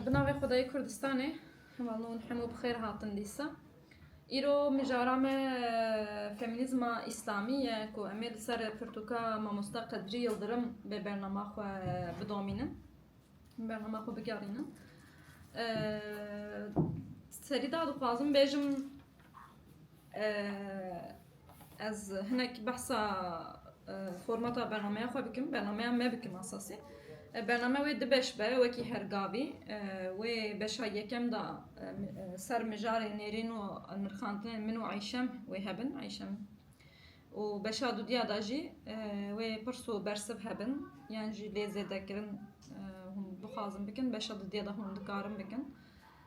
Bi navê Xwedayê Kurdistanê hemal nûn hemû bi xêr hatin dîsa. Îro mijara me feminîzma îslamî ye ku em ê li ser pirtûka Mamosta Qedrî Yildirim bê bernama xwe bidomînin, bernama xwe bigerînin. Serî de dixwazim bêjim Ez hinek behsa formata bernameya xwe bikim, bernameya me bikim esasî. Bername wê di beş be wekî her gavî. Wê beşa yekem de ser mijarê nêrîn û nirxandinên min û Eyşem wê hebin Eyşem û beşa dudîya de jî wê pirs û bersiv hebin yan jî lê zêdekirin hûn bixwazin bikin beşa dudîya de hûn dikarin bikin.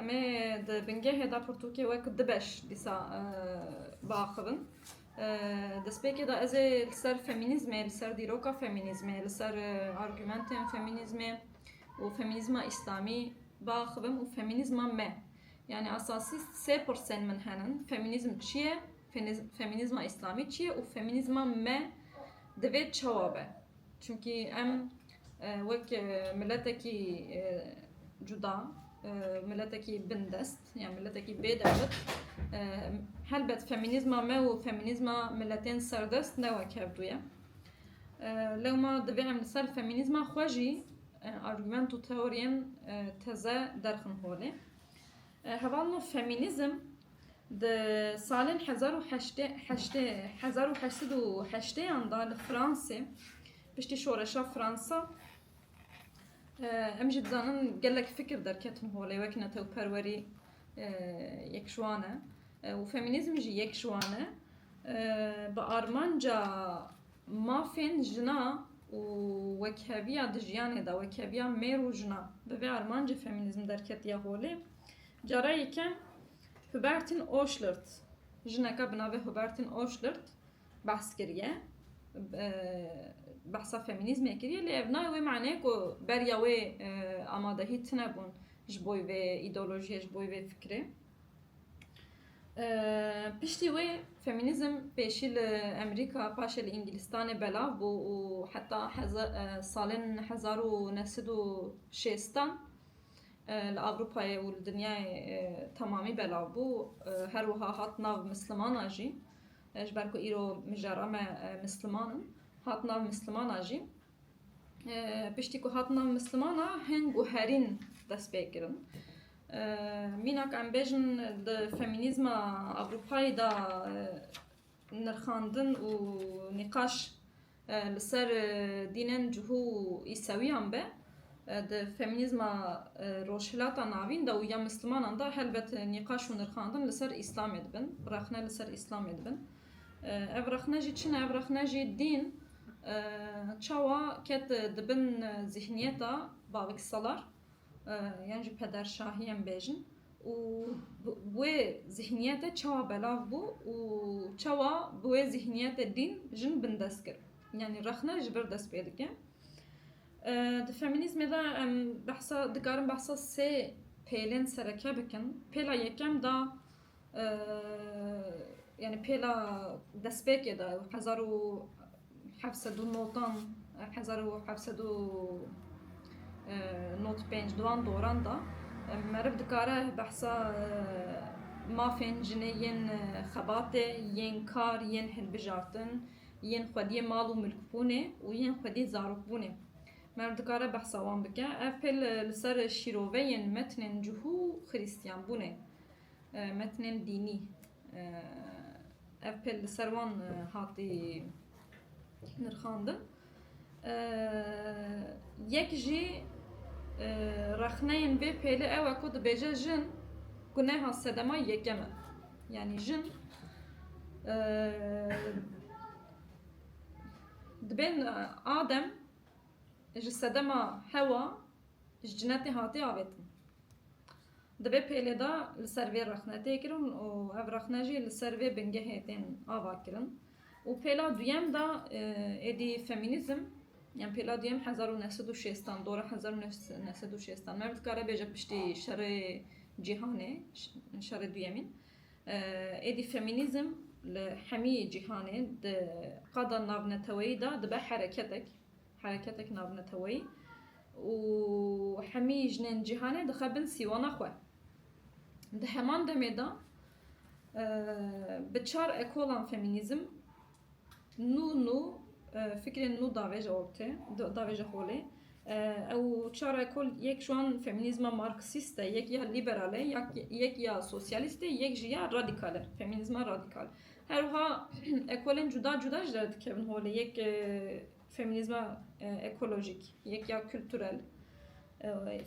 Em ê di bingehê de pirtûkê wek du beş dîsa biaxivin. Destpêkê de ez ê li ser femînîzmê, li ser dîroka femînîzmê, li ser argumentên femînîzmê û femînîzma îslamî biaxivim û femînîzma me. Yani esasî sê pirsên min henin, femînîzm çi ye, femînîzma îslamî çi ye û femînîzma me divê çawa be. Çimkî em wek miletekî cuda, miletekî bindest yan miletekî bê dewlet helbet femînîzma me û femînîzma miletên serdest ne wek hev du ye. Lewma divê em li ser femînîzma xwe jî argument û teoriyên teze derxin holê. Heval min femînîzm Di salên hezar û heştê heştê hezar û heşt sed û heştêyan de li Fransê piştî şoreşa Fransa em jî dizanin gelek fikir derketin holê wek netewperwerî yek ji wan e û femînîzm jî yek ji wan e bi armanca mafên jina û wekheviya di jiyanê de wekheviya mêr û jina bi vê armancê femînîzm derketiye holê. Careyêke Hubertin Oschlert, jineke bi navê Hubertin Oschlert behs kiriye, behsa femînîzmê kiriye lê ev nayê wê maneyê ku beriya wê amadehî tune bûn ji bo vê îdeolojiyê, ji bo vê fikirê. Piştî wê femînîzm pêşî li Emerîka paşê li Îngilîstanê belav bû û heta salên hezar û neh sed û şêstan, li Ewropayê û li dinyayê temamî belav bû, her wiha hat nav Mislimana jî, ji ber ku îro mijara me Misliman in, hat nav Mislimana jî. Piştî ku hat nav Mislimana hên guherîn dest pê kirin. Mîna ku em bêjin di femînîzma Ewropayê de nirxandin û nîqaş, Li ser dînên cihû û îsewiyan be di femînîzma Rojhilata Navîn de û ya Mislimanan de helbet nîqaş û nirxandin li ser Îslamê dibin, rexne li ser Îslamê dibin. Ev rexne jî çi ne? Ev rexne jî dîn çawa ket dibin zîhniyeta baviksalar? yan jî pederşahiyên bêjin û bi wê zihniyetê çawa belav bû û çawa bi wê zihniyetê dîn jin bindest kir. Yanî rexne ji vir dest pê dike. Di feminîzmê de em behsa dikarin behsa sê pêlên sereke bikin. Pêla yekem da yani pêla destpêkê de hezar û heft sed û notan hezar û heft sed û not pênc duan doran da meriv dikare behsa mafên jinê yên xebatê yên kar yên hilbijartin yên xwediyê mal û milkbûnê û yên xwediyê zarokbûnê meriv dikare behsa wan bike ev pê li ser şîroveyên metnên cihû xirîstiyanbûnê Metnên dînî, ev pêl li ser wan hatî nirxandin. Yek jî rexneyên vê pêlê ew e ku dibêje jin guneha sedema yekem e. Yanî jin dibên Adem ji sedema Hewa ji cinetê hatiye avêtin. Divê pêlê de li ser vê rexne tê kirin û ev rexne jî li ser vê bingehê tên ava kirin û pêla duyem de êdî femînîzm yan pêla duyem hezar û neh sed û şêstan dora hezar û neh sed û şêstan merv dikare bêje piştî şerê cîhanê şerê duyemîn êdî femînîzm li hemî cîhanê di qada navneteweyî de dibe hereketek Hereketek navneteweyî û hemî jinên cîhanê dixe bin sîwana xwe. Di heman demê de bi çar ekolan femînîzm nû nû fikrên nû davêje ortê, davêje holê. Ew çar ekol yek ji wan femînîzma marksîst e, yek ya lîberal e, yek ya sosyalîst e, yek jî ya radîkal e, femînîzma radîkal. Her wiha ekolên cuda cuda ji derve dikevin holê. Yek Femînîzma ekolojîk, yek ya kulturel,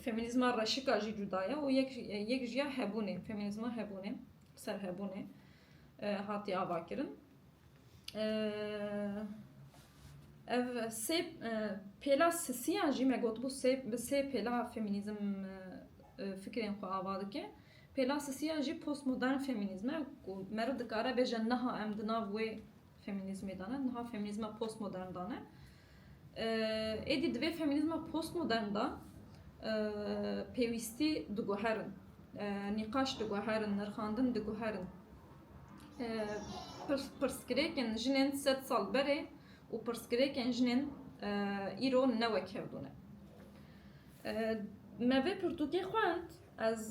femînîzma reşika jî cuda ye û yek yek jî ya hebûnê, femînîzma hebûnê, serhebûnê hatiye avakirin. Ev sê pêla sisiyan jî me gotibû sê bi sê pêla femînîzm fikrên xwe ava dike. Pêla sisiyan jî postmodern femînîzm e ku meriv dikare bêje niha em di nav wê Feminîzmê de ne, niha feminîzma postmodern de ne. Êdî divê feminîzma postmodern de pêwîstî diguherin, nîqaş diguherin, nirxandin diguherin. Pirsgirêkên jinên sed sal berê û pirsgirêkên jinên îro ne wek hev bûne. Me vê pirtûkê xwend. Ez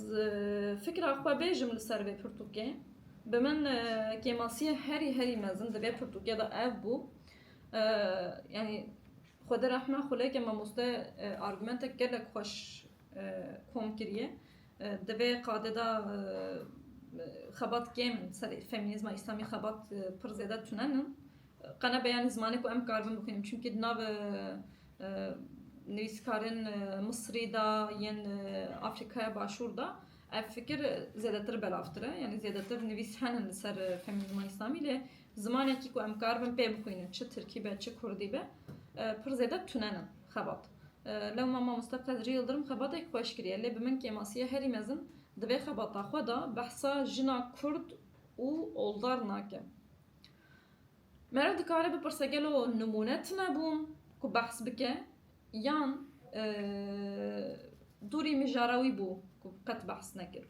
fikra xwe bêjim li ser vê pirtûkê. Bi min kêmasiyê herî herî mezin di vê pirtûkê de ev bû. Yanî Xwedê rehme xuleke mamoste argumentek gelek xweş kom kiriye. Di vê qadê de xebat kêm in serê feminîzma îslamî xebat pir zêde tune in. Qene be yanî zimanê ku em karibin bixwînim. Çimkî di nav Nivîskarên Misrî de yên Afrikaya Başûr de ev fikir zêdetir belavtir e. Yanî zêdetir nivîs henin li ser femînîzma îslamî lê zimanekî ku em karibin pê bixwînin çi tirkî be çi kurdî be pir zêde tune ne xebat. Lewma mamosta Qedrî Yildirim xebateke xweş kiriye lê bi min kêmasiya herî mezin di vê xebata xwe de behsa jina kurd û oldar nake. Mera dikare bipirse gelo nimûne tune bûn ku behs bike yan dorê mijara wî bû ku qet behs nekir.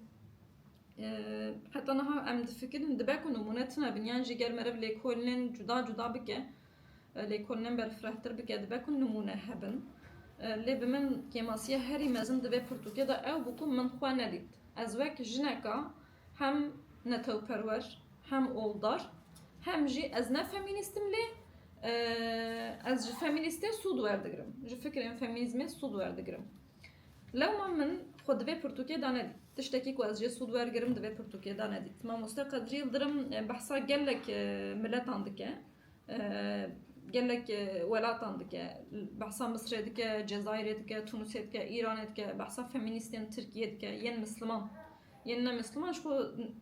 Heta niha em difikirin dibe ku nimûne tune bin yan jî ger meriv lêkolînên cuda cuda bike, lêkolînên berfirehtir bike dibe ku nimûne hebin. Lê bi min kêmasiya herî mezin di vê pirtûkê de ew bû ku min xwe nedît. Ez wek jineka Hem netewperwer, hem oldar, hem jî ez ne femînîst im lê ez ji femînîstê sûd werdigirim, ji fikrên femînîzmê sûd werdigirim. Lewma min xwe di vê pirtûkê de nedît. Tiştekî ku ez jê sûd wergirim di vê pirtûkê de nedît. Mamoste Qedrî Yildirim behsa gelek miletan dike, gelek welatan dike. Behsa Misirê dike, Cezayirê dike, Tunisê dike, Îranê dike, behsa femînîstên Tirkiyê dike, yên misliman. Yên ne Misliman ji xwe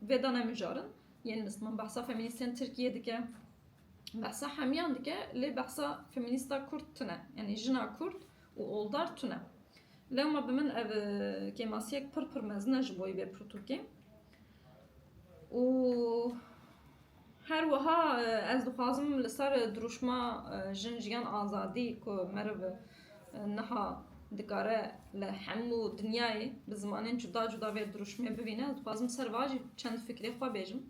vê de ne mijarin. Yên Misliman behsa femînîstên Tirkiyê dike, behsa hemiyan dike lê behsa femînîsta Kurd tune. Yanî jina Kurd û oldar tune. Lewma bi min ev kêmasiyek pir pir mezin e ji bo yê vê pirtûkê. Û Her wiha ez dixwazim li ser dirûşma Jin Jiyan Azadî ku meriv niha dikare li hemû dinyayê bi zimanên cuda cuda vê dirûşmê bibîne, ez dixwazim li ser wiha jî çend fikrê xwe bêjim.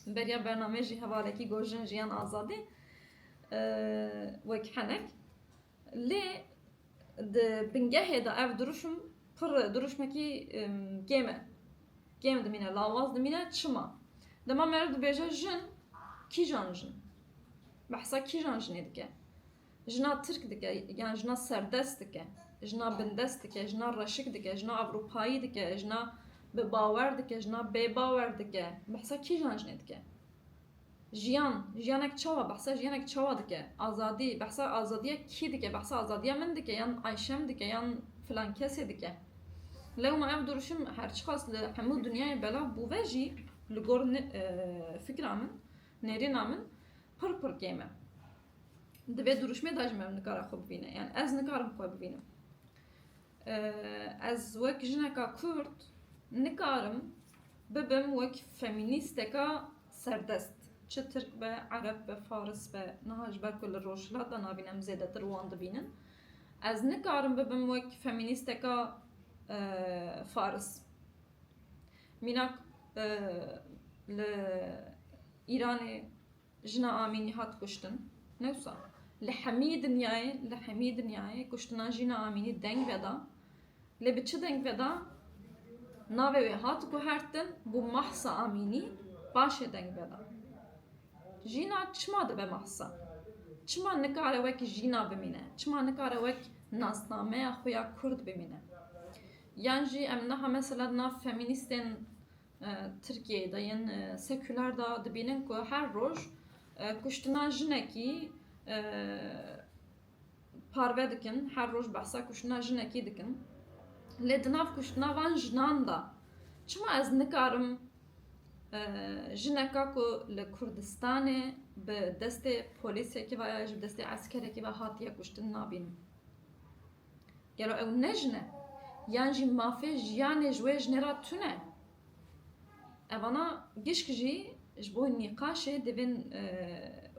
Beriya bernameyê jî hevalekî got Jin Jiyan Azadî wek henek. Lê di bingehê de ev dirûşm pir dirûşmekî kêm e. Kêm dimîne, lawaz dimîne. Çima? Dema meriv dibêje jin, kîjan jin? Behsa kîjan jinê dike? Jina tirk dike yan jina serdest dike? Jina bindest dike, jina reşik dike, jina ewropayî dike, jina bi bawer dike, jina bêbawer dike? Behsa kîjan jinê dike? Jiyan, jiyanek çawa, behsa jiyanek çawa dike? Azadî, behsa azadiya kî dike? Behsa azadiya min dike yan Ayşem dike yan filan kesê dike? Lewma ev duruşim her çiqas li hemû dinyayê belav bûve jî li gor fikra min, nêrîna min pir pir kêm e. Di vê duruşmê de jî me nikare xwe bibîne. Yan ez nikarim xwe bibînim. Ez wek jineka Kurd nikarim bibim wek femînîsteka Serdest, çi tirk be, ereb be, faris be, niha ji ber ku li rojhilat de navîn em zêdetir wan dibînin. Ez nikarim bibim wek femînîsteka faris. Mînak li Îranê jina Amînî hat kuştin. Ne wisa. Li hemî dinyayê, li hemî dinyayê kuştina jina Amînî deng veda. Lê bi çi deng ve da navê wê hat guhertin bû Mahsa Amînî paşê deng ve da. Jîna çima dibe Mahsa? Çima nikare wek jîna bimîne? Çima nikare wek nasnameya xwe ya kurd bimîne? Yan jî em niha mesela di nav femînîstên Tirkiyeyê de yên sekular de dibînin ku her roj kuştina jinekî parve dikin, her roj behsa kuştina jinekî dikin. Lê di nav kuştina van jinan de çima ez nikarim jineka ku li Kurdistanê bi destê polîsekî ve ya ji bi destê eskerekî ve hatiye kuştin nabînim? Gelo ew ne jin e? Yan jî mafê jiyanê ji wê jinê re tune? Evana gişk jî ji bo nîqaşê divên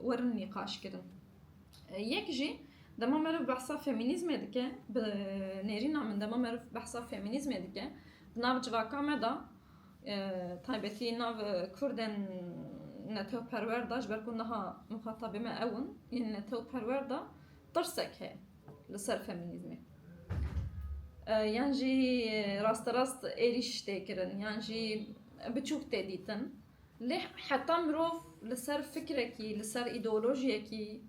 werin nîqaş kirin. Yek jî dema meriv behsa femînîzmê dike, bi nêrîna min dema meriv behsa femînîzmê dike di nav civaka me de taybetî nav kurdên netewperwer de ji ber ku niha mixatabê me ew in yên netewperwer de Pirsek heye li ser feminîzmê. Yan jî rasterast êrîş tê kirin yan jî biçûk tê dîtin. Lê heta mirov li ser fikrekî, li ser îdeolojiyekî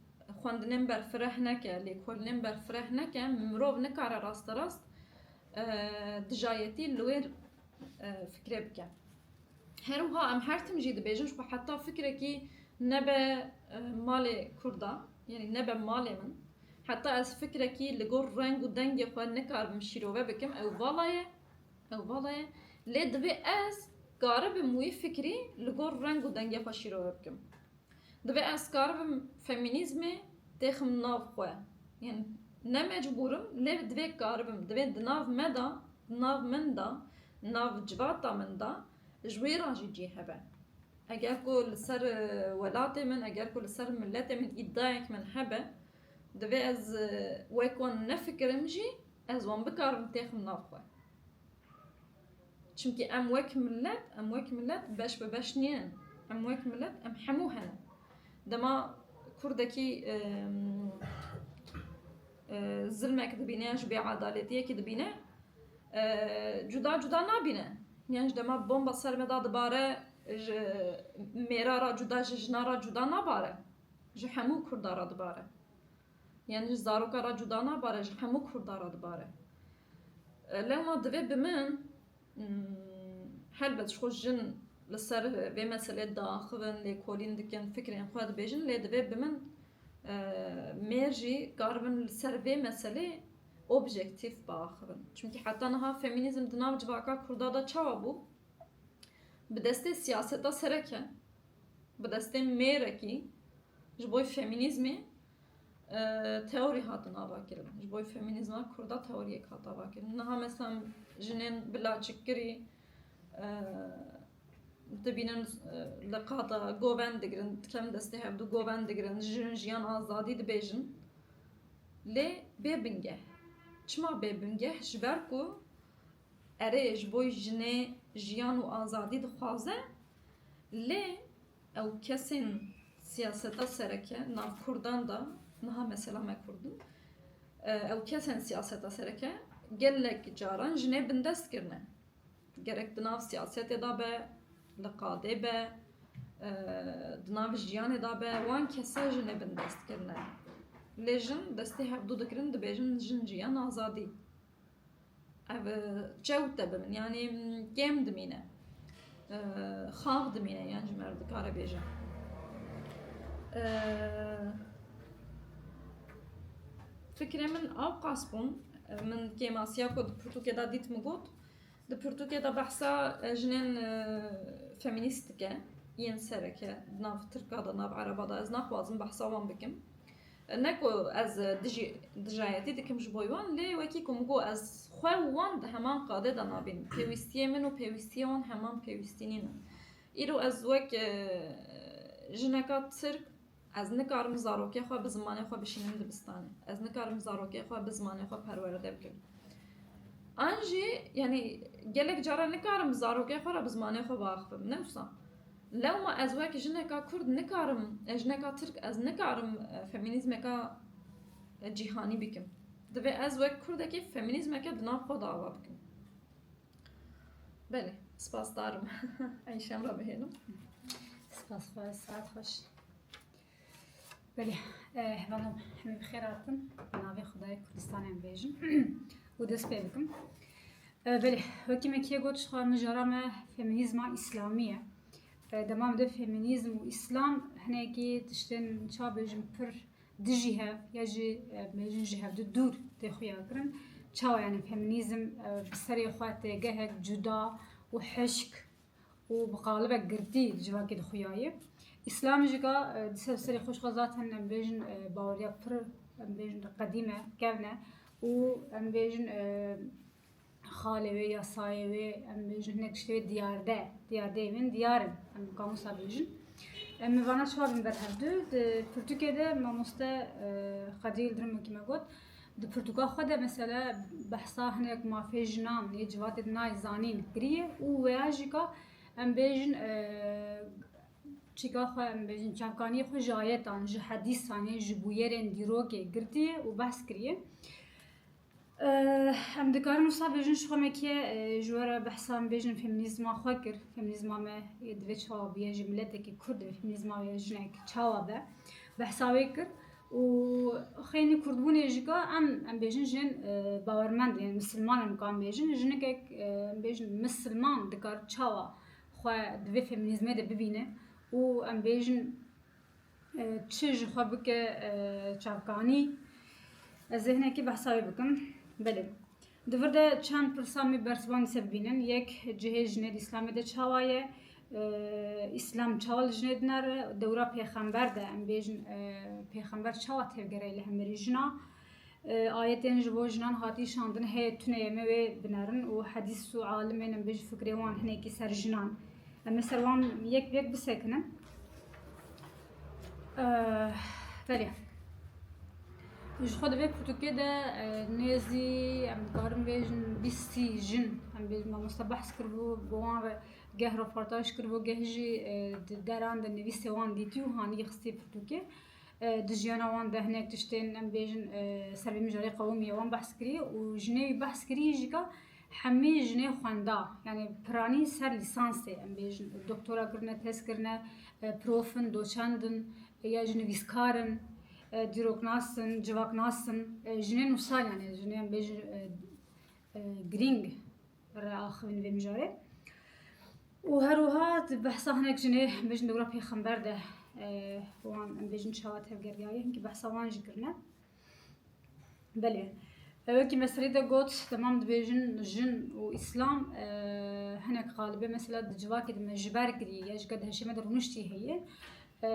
xwendinên berfireh neke, lêkolînên berfireh neke, mirov nikare rasterast dijayetî li wê fikrê bike. Her wiha em her tim jî dibêjin ku heta fikrekî nebe malê Kurdan, yanî nebe malê min, heta ez fikrekî li gor reng û dengê xwe nikaribim şîrove bikim ew vala ye, ew vala ye. Lê divê ez karibim wî fikrî li gor reng û dengê xwe şîrove bikim. Divê ez kar bim femînîzmê tê xim nav xwe. Yên ne mecbûr im lê divê kar bim. Divê di nav me de, di nav min de, di nav cilata min de ji wê re jî cî hebe. Eger ku li ser welatê min, eger ku li ser miletê min îdiayek min hebe, divê ez wek wan nefikirim jî ez wan bikar bim tê xim nav xwe. Çimkî em wek milet, em wek milet beş bi beş nînin. Em wek milet, em hemû hene. Dema Kurdekî zilmek dibîne yan ji bêedaletiyekî dibîne cuda cuda nabîne. Yan ji dema bomba ser me da dibare ji mêra ra cuda ji jina ra cuda nabare. Ji hemû Kurda ra dibare. Yan ji zaroka ra cuda nabare ji hemû Kurda ra dibare. Lewma divê bi min helbet ji xwe jin li ser vê meselê diaxivin, lêkolîn dikin, fikrên xwe dibêjin lê divê bi min mêr jî karibin li ser vê meselê objektîf biaxivin. Çimkî heta niha femînîzm di nav civaka kurda de çawa bû? Bi destê siyaseta sereke, bi destê mêrekî ji bo femînîzmê Teorî hatin avakirin. Ji bo femînîzma kurd a teoriyek hat avakirin. Niha mesam jinên bi laçikkirî dibînin li qada govend digirin, dikem destê hevdû govend digirin, jin jiyan azadî dibêjin. Lê bê bingeh. Çima bê bingeh? Ji ber ku erê ji bo jinê jiyan û azadî dixwaze lê Ew kesên siyaseta sereke nav kurdan de niha mesela me kurd in ew kesên siyaseta sereke gelek caran jinê bindest kirine. Gerek di nav siyasetê de be, li qadê be, di nav jiyanê de be wan kesa jinê bindest kirine. Lê jin destê hevdu dikirin dibêjin jin jî ya nazadî. Ev çewt debin yanî kêm dimîne. Xax dimîne yan ji mer dikare bêje. Fikrê min ew qas bûn. Min kêmasiya ku di pirtûkê de dît min got. Di pirtûkê de behsa jinên feminîst dike yên sereke di nav tirka de nav ereba de ez naxwazim behsa wan bikim. Ne ku ez dijî dijayetî dikim ji bo wan, lê wekî ku min got ez xwe û wan di heman qadê de nabînim. Pêwîstiyê min û pêwîstiyê wan heman pêwîstî nîne. Îro ez wek jineka Tirk ez nikarim zarokê xwe bi zimanê xwe bişînim dibistanê. Ez nikarim zarokê xwe bi zimanê xwe perweride bikim. An jî yanî gelek caran nikarim zarokê xwe re bi zimanê xwe biaxivim. Ne wisa. Lewma ez wek jineka kurd nikarim, jineka tirk ez nikarim feminîzmeka cîhanî bikim. Divê ez wek kurdekê feminîzmeke di nav xwe de ava bikim. Belê, spasdar im. Eyşem re bihêlim. Spas xwe, saet xweş. Belê, hevalan hemî bi xêr hatin. Bi navê Xwedayê Kurdistanê em bêjin û dest pê bikim. Belê, wekî me kê got jixwe mijara me feminîzma îslamî ye. Dema min de feminîzm û îslam hinekî tiştên ça bêjin pir dijî hev ya jî bêjin ji hev di dûr tê xuya kirin. Çawa yanî feminîzm bi serê xwe tê gehek cuda û hişk û bi qalibek girtî di civakê de xuyaye. Îslam jî ga di ser serê xwe jixwe zaten em bêjin baweriya pir em bêjin qedîm e, kevn e û em bêjin xalê wê ya sayê wê em bêjin hinek tiştê wê diyarde, diyardeyê wê diyar in em bi kamusa bêjin. Em mi vana çawa bin ber hevdu di pirtûkê de mamoste Xedîl Dirimokî me got Di pirtûka xwe de mesele behsa hinek mafê jinan yê civatê di nayê zanîn kiriye û weya jî ka em bêjin çîka xwe em bêjin çavkaniyê xwe ji ayetan, ji hedîsan yên ji bûyerên dîrokê girtiye û behs kiriye. Em dikarin wisa bêjin ji xwe me kê ji we re behsa em bêjin feminîzma xwe kir. Feminîzma me divê çawa biye ji miletekî Kurd divê feminîzma wê jinek çawa be behsa wê kir. Û xeynî kurdbûnê jîka em em bêjin jin bawermend yên misilman in ka em bêjin jinikek em bêjin misilman dikar çawa xwe di vê feminîzmê de bibîne û em bêjin çi ji xwe bike çavkanî ez ê hinekî behsa wê bikim belê. Di vir de çend pirsa me ber ziwan li ser bibînin. Yek, cihê jinê di Îslamê de çawa ye? Îslam çawa li jinê dinare? Dewra pêxember de em bêjin pêxember çawa tevgerayî li hemirî jina? Ayetên ji bo jinan hatî şandin heye tune ye me wê binerin û hedîs û alimên em bêjin fikrê wan hinekî ser jinan. Em ê ser wan yek bi yek bisekinin. Belê. Ji xwe divê pirtûkê de nêzî em dikarin bêjin bîstî jin em bêjin mamoste behs kiribû bi wan re geh reportaj kiribû geh jî di deran de nivîsê wan dîtî û hanî xistî pirtûkê. Di jiyana wan de hinek tiştên em bêjin servê mijarê qewimî wan behs kirî û jinê wî behs kirî jî ka Hemî jinê xwenda yanî piranî ser lîsansê em bêjin doktora kirine, tez kirine, prof in, doçend in ya jî nivîskar in, dîroknas in, civaknas in. Jinên wisa yanî jinê em bêjin girîng re axivin vê mijarê. û herwiha di behsa hinek jinê bêjin dewra pêxember de wan em bêjin çawa tevgeriyayê hinkî behsa wan jî kirine. Belê. Wekî me serê de got temam dibêjin jin û îslam e, hinek xalibê mesela di civakê de me ji ber kirî ya ji ke di heşê me de rûniştî heye. E,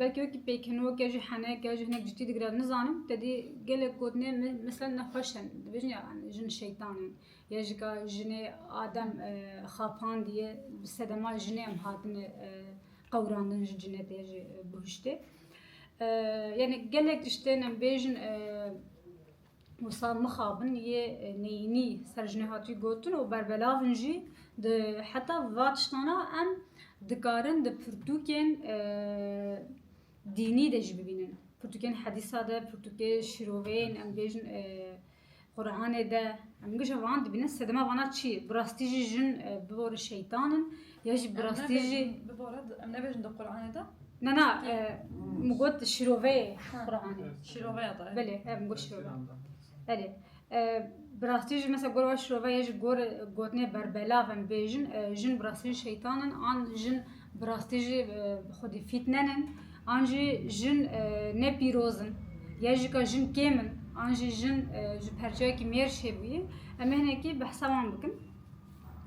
Belkî wekî pêkenok ya jî henek ya jî hinek cidî digire nizanim tedî gelek gotinê me- mesela nexweş in. Dibêjin ya yani jin şeytan in ya ji ka jinê adem e, xapandiye bi sedema jinê em hatine e, qewirandin ji cinetê ya jî e, bihuştê. Yanî gelek tiştên em bêjin wisa mixabin yê neyînî ser jinê hatî gotin û berbelavin jî di heta va tiştana em dikarin di pirtûkên dînî de jî bibînin. Pirtûkên hedîsa de, pirtûkê şîroveyên em bêjin Quranê de em gije van dibînin sedema vana çi bi rastî jî jin e, bi bo re şeytan in ya jî bi rastî jî Bi bo re em nebêjin di Qur'anê de ne na e, min got şîroveyê Quranê şîroveya da. belê ev min got şîrove belê E, bi rastî jî mesela gor wa şîrove ya jî gor gotinê berbelav em bêjin e, jin bi rastî jî şeytan in an jin bi rastî jî e, xwedî fîtnen in An jî jin ne pîroz in, ya jî ka jin kêm in, an jî jin ji perçeyekî mêrj hêbûyê. Em ê hinekî behsa wan bikin.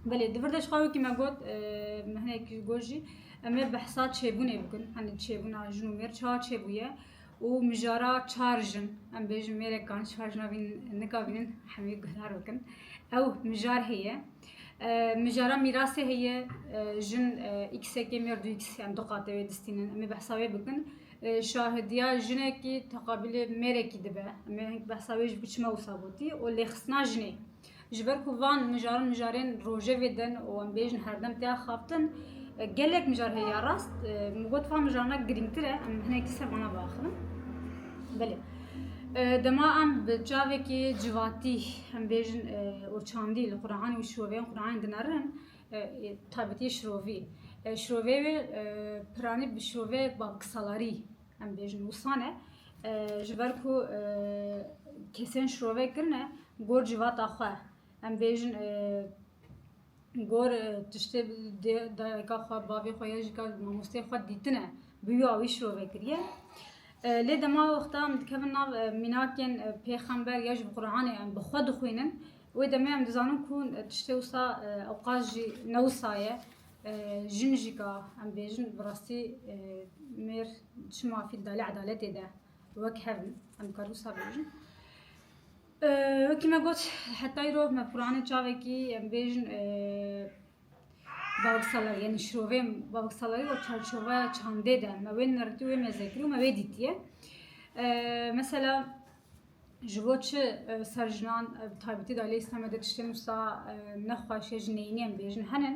Belê di vir de ji xwe wekî me got min hinek ji got jî em ê behsa çêbûnê bikin. Hani çêbûna jin û mêr çawa çêbûye û mijara çar jin em bêjin mêrekan çar jina vîn nikavînin hemî guhdar bikin. Ew mijar heye. Mijara mîrasê heye jin îksekê mêrdû îks yan du qate wê distînin. Emê behsa wê bikin. Şahidiya jinekî teqabîlê mêrekî dibe. Emê hink behsa wê jî biçime wisa gotî û lêxistina jinê. Ji ber ku van mijarin mijarên rojevê din û em bêjin herdem têya xaftin gelek mijar heye ya rast. Min got van mijarina girîngtir e em hinekî ser wana biaxivin. Belê. Dema em bi çavekî civatî Em bêjin û çandî li Quranê û şiroveyên Quranê dinerin taybetiyê şirovî. Şiroveyê wê piranî bi şiroveyek babiksalarî em bêjin wisa ne. Ji ber ku kesên şirove kirine gor civata xwe. Em bêjin Gor tiştê dê dayika xwe, bavê xwe ya jî ka mamosteyê xwe dîtine bi wî awî şirove kiriye. Lê dema wexta em dikevin nav mînakên pêxember ya ji Quranê em bi xwe dixwînin wê demê em dizanin ku tiştê wisa ewqas jî ne wisa ye. Jin jî ka em bêjin bi rastî mêr çima fîl da lê edaletê de wek hev in. Em dikarin wisa bêjin. Wekî me got hetayî rov me Quranê çavekî em bêjin bavksalar yanî şirovê bavksalarî û çarçoveya çandê de me wê nertî wê mêzekirî û me wê dîtiye. Mesela ji bo çi ser jinan taybetî de lê Îslamê de tiştên wisa nexweşê ji neyînê em bêjin henin.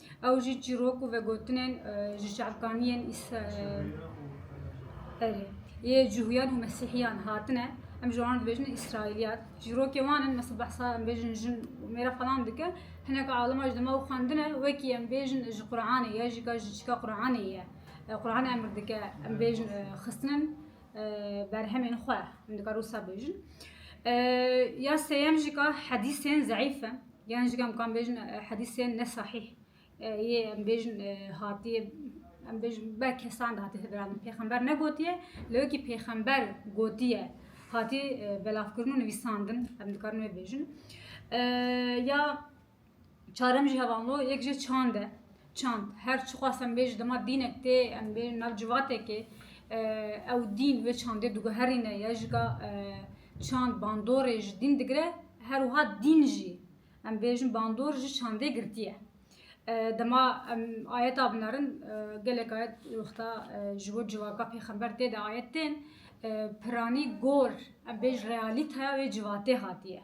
Ew jî çîrok û vegotinên ji çavkaniyên Îsraîlê yê Cuhûyan û Mesîhîyan hatine. Em ji wan re dibêjin Îsraîlîyan. Çîrokên wan in mesela behsa em bêjin jin û mêra falan dike. Hinek alima ji dema wê xwendine wekî em bêjin ji Quranê ye jî ka ji çîka Quranê ye. Quranê emr dike em bêjin xistinin berhemên xwe. Em dikarin wisa bêjin. Ya sêyem jî ka hedîsên zeîf in. Yan jî em kan bêjin hedîsên ne sahîh yê em bêjin hatiye em bêjin be kesan de hatiye vera min pêxember negotiye lê wekî pêxember gotiye hatî belavkirin û nivîsandin em dikarin wê bêjin ya çarem jî hevanlo yek jê çand e Çand, her çi xwast em bê ji dema dînek tê em bêjin nav civatekê ew dîn wê çandê diguherîne ya ji ka çand bandorê ji dîn digire her wiha dîn jî em bêjin bandor ji çandê girtiye. Dema em ayeta binerin gelek ayet wexta ji bo civaka pêxember tê de ayet tên piranî gor em bêj realîteya wê civatê hatiye.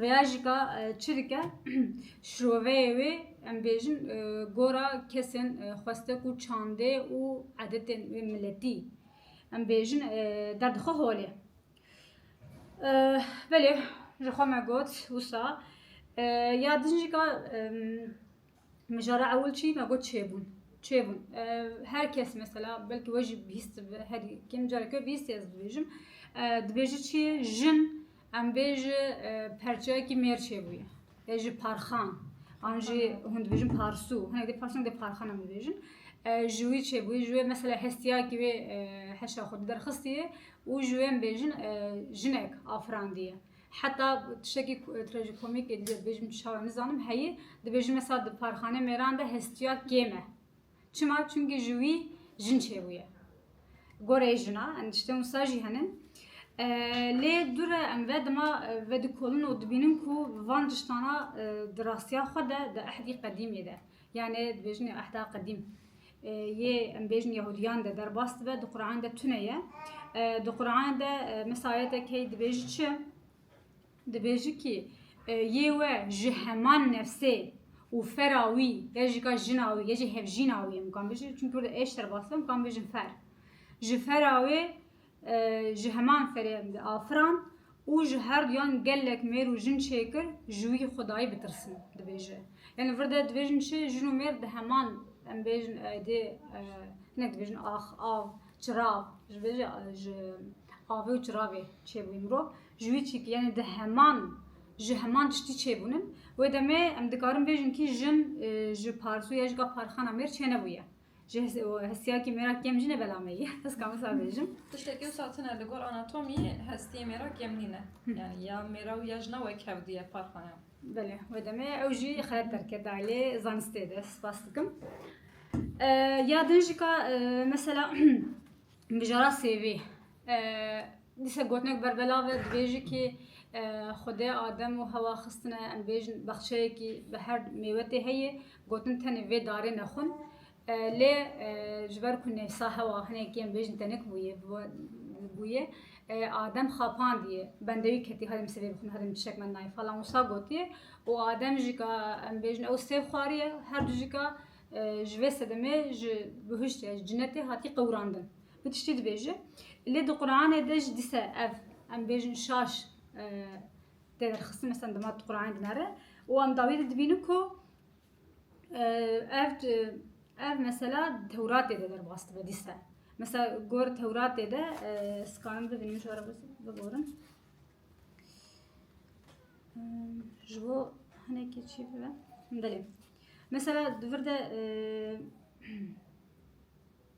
Rêya jika çi dike? Şroveyê wê em bêjin gora kesên xwestek û çandê û edetên wê miletî em bêjin derdixwe holê. Belê ji xwe me got wisa ya din jika Mijara ewil çi? Me got çêbûn. Çêbûn. Her kes mesela belkî we jî bihîst bi herî kêm careke we bihîst ez dibêjim. Dibêji çi ye? Jin em bê ji perçeyekî mêr çêbûye. Ê ji parxan. An jî hûn dibêjin parsû. Hinek dê parsû hinek dê parxan em dibêjin. Ji wî çêbûye ji wê mesela hestiyakî wê heşa xwe derxistiye û ji wê em bêjin jinek afirandiye. Heta tiştekî trajikomîk ê bêjim çawa nizanim heye, dibêjin mesela di parxane mêran de hestiya kêm e. Çima? Çimkî ji wî jin çêbûye. Goreyê jina em tiştên wisa jî hene. Lê dûre em ve dima vedikolin û dibînin ku van tiştana di rastiya xwe de di ehdî qedîmê de. Yanê dibêjin ehda qedîm. Yê em bêjin Yahudiyan de derbas dibe di Quran de tune ye. Di Quran de misayetek hey dibêji çi? Dibêji ki yê we ji heman nefsê û fera wî ya jî ka jina wî ya jî hevjîna wî em kan bêjin. Çünkü orada eş derbas dibe em kan bêjin fer. Ji fera wê ji heman ferê em diafiran û ji her duyan gelek mêr û jin çêkir ji wî xwedayî bitirsin dibêje. Yanî vir de dibêjin çi jin û mêr di heman em bêjin aydê hinek dibêjin ax, av, çirav ji vê re ji avê û çiravê çêbûyî mirov ji wî çîkî yanî di heman ji heman tiştî çêbûnin. Wê demê em dikarin bêjin kî jin ji parsoya jika parxana mêr çênebûye. Ji hestiyakê mêr a kêm jî ne bela me ye. Ez ka wisa bêjim. Tiştekî wisa tune li gor anatomîyê hestiyê mêr a kêm nîn e. Yanî ya mêr a û ya jina wek hev dûye par xwe ne. Belê, wê demê ew jî xereb derket da lê zanistê de spas dikim. Ya din jî ka mesela mijara sêvê Dîsa gotinek ber belav e, dibêje kî Xwedê Adem û Hewa xistine em bêjin bexçeyekî bi her mêwetê heye, gotin tenê vê darê ne xwin. Lê ji ber ku nêfsa Hewa hinekî em bêjin tenik bûye, bûye Adem xapandiye, bendê wî ketî hadi min sivê bixwin, hadi min tiştek me nayê falan wisa gotiye û Adem jî ka em bêjin ew sêv xwariye, her du jî ka ji vê sedemê ji bihiştê, ji cinetê hatiye qewirandin. Bi tiştî dibêje. Lê di Quranê de jî dîse ev em bêjin şaş tê derxistin mesela dema di Quranê dinere û em dawî de dibînin ku ev ev mesela Tewratê de derbas dibe dîse. Mesela gor Tewratê de sikanin bibînin jara bigorin. Ji bo hinekî çî bibe. Belê. Mesela di vir de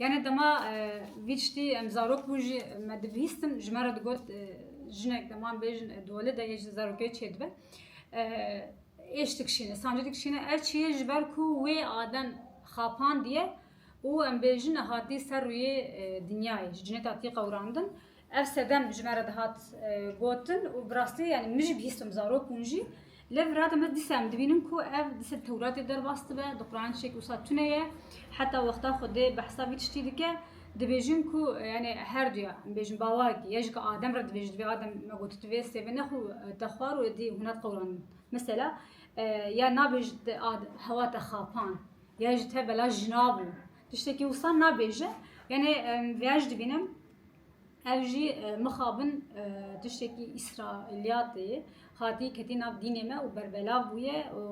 Yanê dema vî tiştî em zarok bûn jî me dibihîstin ji me re digot jinek dema em bêjin dole de yê ji zarokê çêdibe êş dikişîne, sancî dikişîne ev çi ye ji ber ku wê adem xapandiye û em bêjin hatiye ser rûyê dinyayê ji cinê de hatiye qewirandin. Ev sedem ji me re dihat gotin û bi rastî yanî min jî bihîstim zarok bûn jî. Lê virate me dîsa em dibînin ku ev di ser Tewratê derbas dibe, di Quranê tiştekî wisa tune ye. Heta wexta Xwedê bi hesab vî tiştî dike. Dibêjin ku yanî her duya em bêjin bawarekî ye ji adem re dibêjin divê adem me got tu vê sêvê ne xwe te xwar û êdî hûn nat qewranin. Mesela ya nabêj te hewa te xapan ya ji te bela jina bû tiştekî wisa nabêje. Yanî vêya jî dibînim Ev jî mixabin tiştekî îsraîliyatê hatiye ketî nav dînê me û berbelav bûye û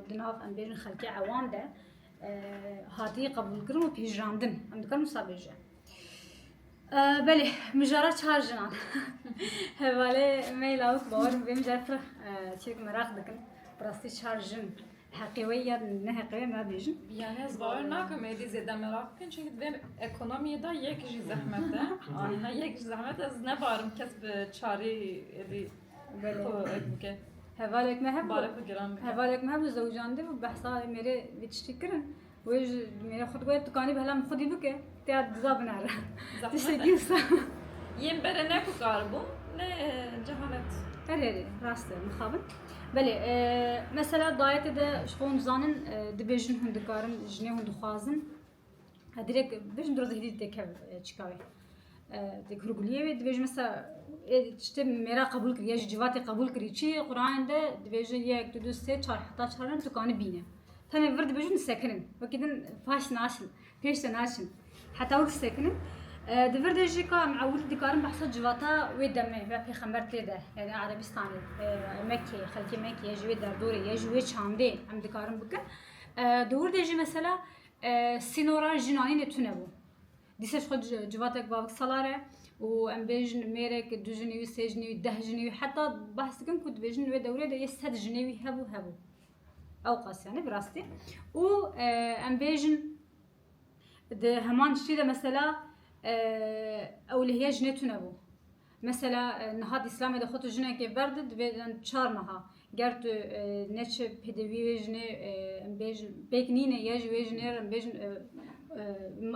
di nav em bêjin xelkê ewan de hatiye qebûlkirin û pîjrandin. Em dikarin wisa bêje. Belê mijara çar jinan hevalê me lawik bawer bê mijara pir çêk meraq dikin. Rastî çar jin Heqê wê ya ne heqê wê nabêjin. Yani ez bawer nakim êdî zêde meraq bikin çünkü di vê ekonomiyê de yek jî zehmet e. Aniha yek jî zehmet ez nebarim kes bi çarî êdî xwe ek bike. Hevalek me hebû, hevalek me hebû zewcandibû behsa mêrê vê tiştî kirin. Wê ji mêrê xwe digot, Dikanî bi hela min xwedî bike, têya diza binare. Tiştekî wisa. Yên bere ne ku kar bûm, ne cehalet. Erê erê, rast e, mixabin. Belê, e, mesela dayetê de ji xwe hûn dizanin, e, dibêjin hûn dikarin, jinê hûn dixwazin. E, dirêk bêjin dirozê hêdî dikeve e, çikawê. Dek hurguliyê wê dibêj mesa tiştê mêra qebûl kir, ya ji civatê qebûl kirî çi Qur'anê de dibêje yek, du, du, sê, çar heta çaran tu kanî bîne. Tenê vir dibêjin disekinin. Wekî din faş naşin, pêş de naşin. Heta wek disekinin. Di vir de jî ka em ewil dikarin behsa civata wê demê ve pêxember tê de yani Erebistanê, Mekkê, xelkê Mekkê ya ji wê derdorê ya ji wê çandê em dikarin bikin. Di wir de jî mesela sînora jinanînê tune bû. Dîsa ji xwe civatek bavik salar e û em bêjin mêrek du jinî wî, sê jinî wî, deh jinî wî heta behs dikin ku dibêjin li wê dewrê de yê sed jinê wî hebû hebû. Ewqas yanî bi rastî û em bêjin di heman tiştî de mesela ewlehiya jinê tune bû. Mesela niha di Îslamê de xwe tu jinekê berde divê in çar meha. Ger tu neçi pêdivî wê jinê bêjin pêk nîne ye ji wê jinê re bêjin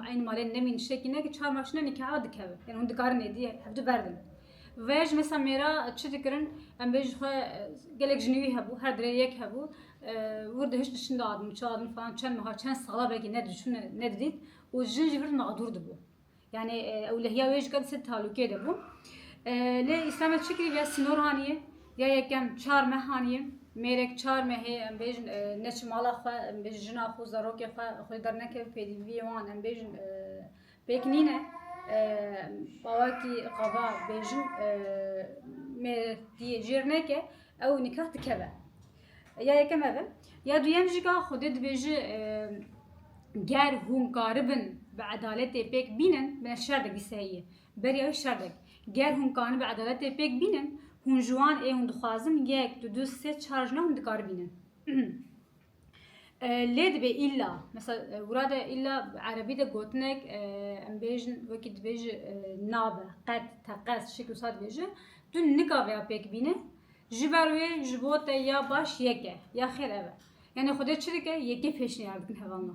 eynî malê nemîn tiştekî neke çar mah jine nîkaha dikeve. Yani hûn dikarin êdî hev du berdin. Ve ji mesela mêra çi dikirin em bêjin xwe gelek jinî wî hebû her dirê yek hebû wir dihişt diçin dadin çi dadin falan çend meha çend sala belkî ne diçûn ne didît û jin ji vir di mexdûr dibû. Yani ewlehiya wê jika dise talûkê de bû. Lê îslam çi kirî ya sînor haniyê, ya yekem çar meh haniyê. Mêrek çar mehê em bêjin neçi mala xwe, em bêjin jina xwe, zarokê xwe, xwe dernekeve pêdîviyê wan em bêjin pêk nîne. Bawakî qaba bêjin mêrek diyê jêr neke ew nikah dikeve. Ya yekem ev e. Ya duyem jî ka Xwedê dibêje ger hûn karibin bi edaletê pêk bînin me şerdek dî sehî ye. Beriya wî şerdek. Ger hûn kanin bi edaletê pêk bînin hûn ji wan ê hûn dixwazin yek, du, du, sê, çar jina hûn dikaribînin. lê dibê îlla mesela wira de îlla erebî de gotinek em bêjin wekî dibêje nabe qet teqez şekl wisa dibêje tu nikavêya pêk bîne Ji ber wê ji bo te ya baş yek e, ya xêr ev e. Yanî Xwedê çi dike? Yekê pêşniyar dikin heva me.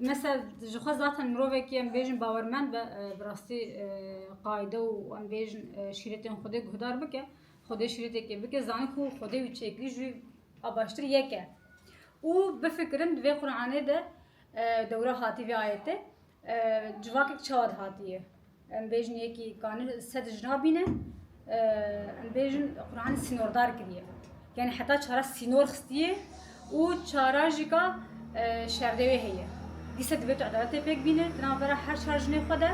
Mesela ji xwe zaten mirovekî em bêjin bawermend be bi rastî qayde û em bêjin şîretên Xwedê guhdar bike, Xwedê şîretekê bike, zanî ku Xwedê wî çêkir ji wî a baştir yek e. Û bifikirin di vê Quranê de dewra hatî vê ayetê civakek çawa dihatiye. Em bêjin yekî kanî sed jina bîne. Em bêjin Qur'anî sînordar kiriye. Yani heta çara sînor xistiye û çara jî ka şerdewê heye. Dîsa divê tu edaletê pêk bîne di navbera her çar jinê xwe de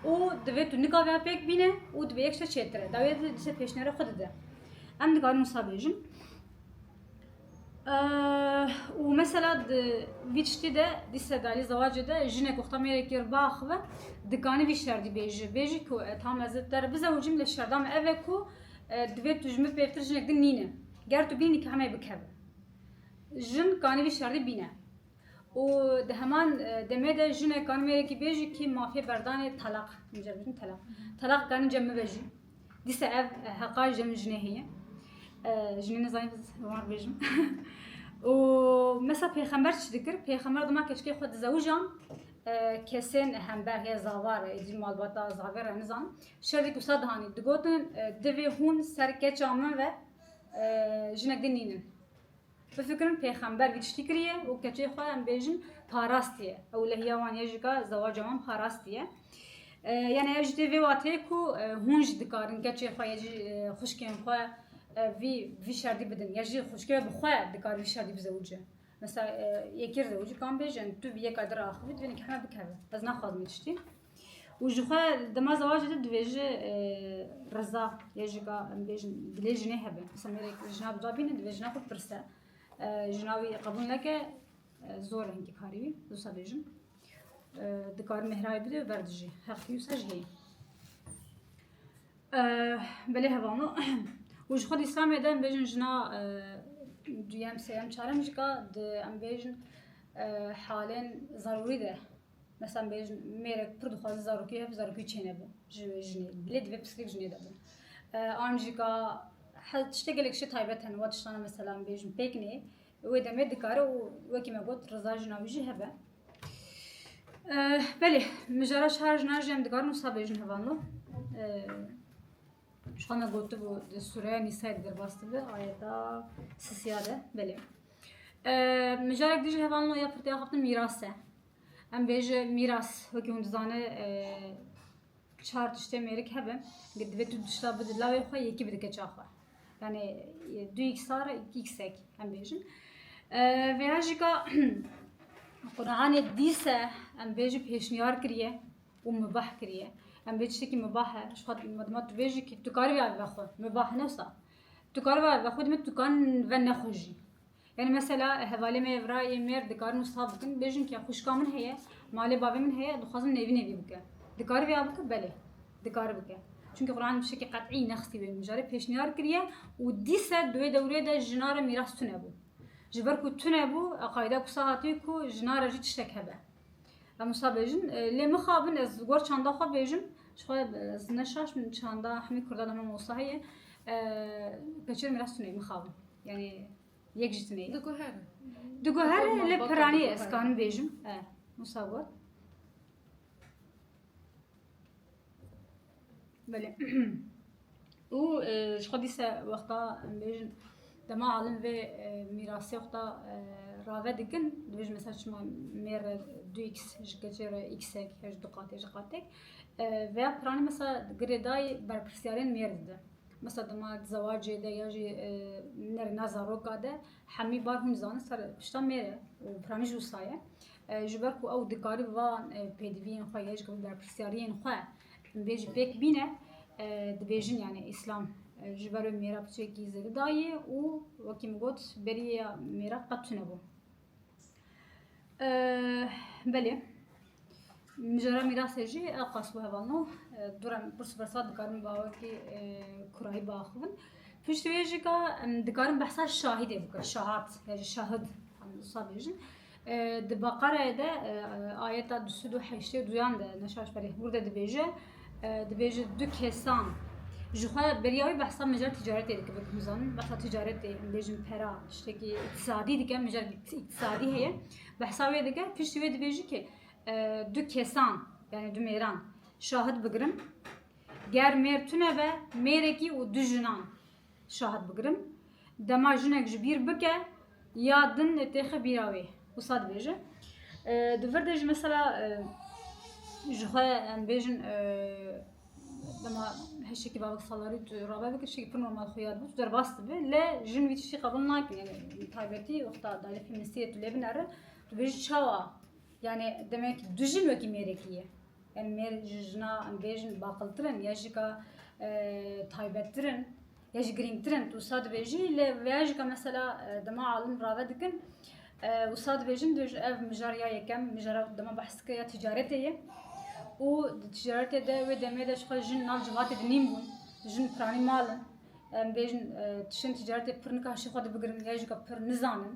û divê tu nika ve pêk bîne û divê yek şte çêtir e. Dawiyê dîsa pêşniyara xwe dide. Em dikarin wisa bêjin. û mesela di vî tiştî de di sedarî zewacê de jinek û xta mêrekî re biaxive dikanî vî şerdî bêje. Bêjî ku ez tam ez te re bizewicim lê şerda me ev e ku divê tu ji min pêvtir jinek din nîne. Ger tu bînî nikahê me yê bikeve. Jin kanî vî şerdî bîne. Û di heman demê de jinek kanî mêrekî bêjî kî mafiyê berdanê telaq. Min carek gotin telaq. Telaq kanî cem bibe jî. Dîsa ev heqa ji min jinê heye. Jinê nizanim wan bêjim. û mesela pêxember çi dikir? Pêxember dima keçikê xwe dizewijan kesên hember heye zavar êdî malbata zavê re nizan. Şerî gusa dihanî digotin divê hûn ser keça min ve jinek din nînin. Bifikirin pêxember vî tiştî kiriye û keçê xwe em bêjin parastiye. Ewlehiya wan yê jî ka zewaca wan parastiye. Yani ev jî tê vê wateyê ku hûn jî dikarin keçê xwe yê jî xuşkên xwe vî vî şerdî bidin. Ya jî xuşkê we bi xwe dikar vî şerdî bizewicin. Mesela yekê rizewicî kan bêjin tu vî yeka dir axivî divêne kî heme bikeve. Ez naxwazim vî tiştî. û ji xwe li dema zewacê de dibêje riza yê jika em bêjin dilê jinê hebe disa mêrek jina bi dabîne divê jina xwe bipirse jina wî qebûl neke zor hingî karî wî disa bêjin dikar mehrayê bide û berdijî heq wî wisa jî heye belê hevano û ji xwe di îslamê de em bêjin jina duyem sêyem çarem jika di em bêjin halên zarûrî de Mesela bêjin mêrek pir dixwaze zarokî hev zarokî çêne bi ji jinê. Lê divê pirsgirêk jinê de bin. An jî ka tiştê gelek şê taybet hene wa tiştana mesela bêjin pêk nê wê demê dikare û wekî me got riza jina wî jî hebe. Belê min jara çar jinan jî em dikarin wisa bêjin hevan lo. Şu me gotibû di sûreya nîsayê di derbas dibe ayeta sisiya de belê. Mijarek dijî heval no ya pirtîya xaftin mîras e. Em bêje mîras wekî hûn dizane çar tiştê mêrik hebe ke divê tu tişta bidi lawê xwe yekî bidike ça xwe. Yani du iksar iksek em bêjin. Veya jî ka Qur'anê dîse em bêje pêşniyar kiriye û mubah kiriye. Em bê tiştekî mubah e. Ji xwe tu bêje kî tu karî vê aviva xwe. Mubah ne wisa. Tu kar va vexwe dime tu kan ve nexwîjî. Yani mesela hevalê me evra yê mêr dikarin wisa bikin bêjin ke xwişka min heye, malê bavê min heye dixwazim nevî nevî bike. Dikari vêya bike belê. Dikari bike. Çünkü Kur'an bi şekî qet'î nexsî wê mijarê pêşniyar kiriye û dîse di wê dewrê de jina re mîras tune bû. Ji ber ku tune bû, eqaîda kusa hatiye ku jina re jî tiştek hebe. Em wisa bêjin lê mixabin ez ji gor çanda xwe bêjim ji xwe ez neşaş min çanda hemî kurdan hemî wisa heye peçer miras tunê mixabin yani yek ji tunê diguher diguher lê piranî ez kanim bêjim wisa gor Belê. Û e, ji xwe dîse wexta em bêjin dema alin vê e, mîrasê wexta e, rave dikin dibêjin mesela çima mêr re du x ji keçê re xek ya ji du qatê ji qatek e, veya piranî mesela girêdayê berpirsyarên mêr dide. Mesela dema di zewacê de ya jî e, nerina zaroka de hemî bar hûn zanin ser pişta mêr e û piranî jî wisa ye. Ji ber ku ew dikarî van pêdiviyên xwe yê ji ber berpirsyariyên xwe bê jî pêk bîne dibêjin yanî îslam ji ber wê mêra piçekî zêde dayê û wekî min got berî ya mêra qet tunebû. Belê mijara mîrasê jî ew qas bu hevalno du re min pirs bersa dikarim bawekî kurayî biaxivin. Piştî wê jî ka em dikarin behsa şahîdê bikin şahat ya jî şahid em wisa bêjin. Di Beqereyê de ayeta du sed û heştê duyan de Neşaş Pelih Mûrde dibêje, dibêje du kesan ji xwe beriya wî behsa mijar ticaretê dike bi huzanin behsa ticaretê em bêjin pera tiştekî îktisadî dike mijar îktisadî heye behsa wê dike piştî wê dibêjî ki du kesan yani du mêran şahid bigirin ger mêr tune be mêrekî û du jinan Şahat bigirim. Dema jinek ji bîr bike ya din têxe bîra wê. Wisa dibêje. Di vir de jî mesela ji xwe em bêjin dema heşekî bavek salarî tu rabe bikir şekî pir normal xwe yad bû tu derbas dibe le jin wî tiştî qebûl nakin yani taybetî wexta dayê feministiyê tu lê binere tu bêjî çawa yani demek du jin wekî mêrekî ye. Em mêr ji jina em bêjin baqiltir in ya jî ka taybettir in ya jî girîngtir in tu wisa dibêjî lê ya jî ka mesela dema alim rave dikin wisa dibêjin tu ji ev mijar ya yekem mijara dema behs kir ya tîcaretê ye û di tîcaretê de wê demê de jixwe jin nav civatê de nîn bûn jin piranî mal in em bêjin tişên tîcaretê pir nika hişê xwe de bigirin ya jî ka pir nizanin.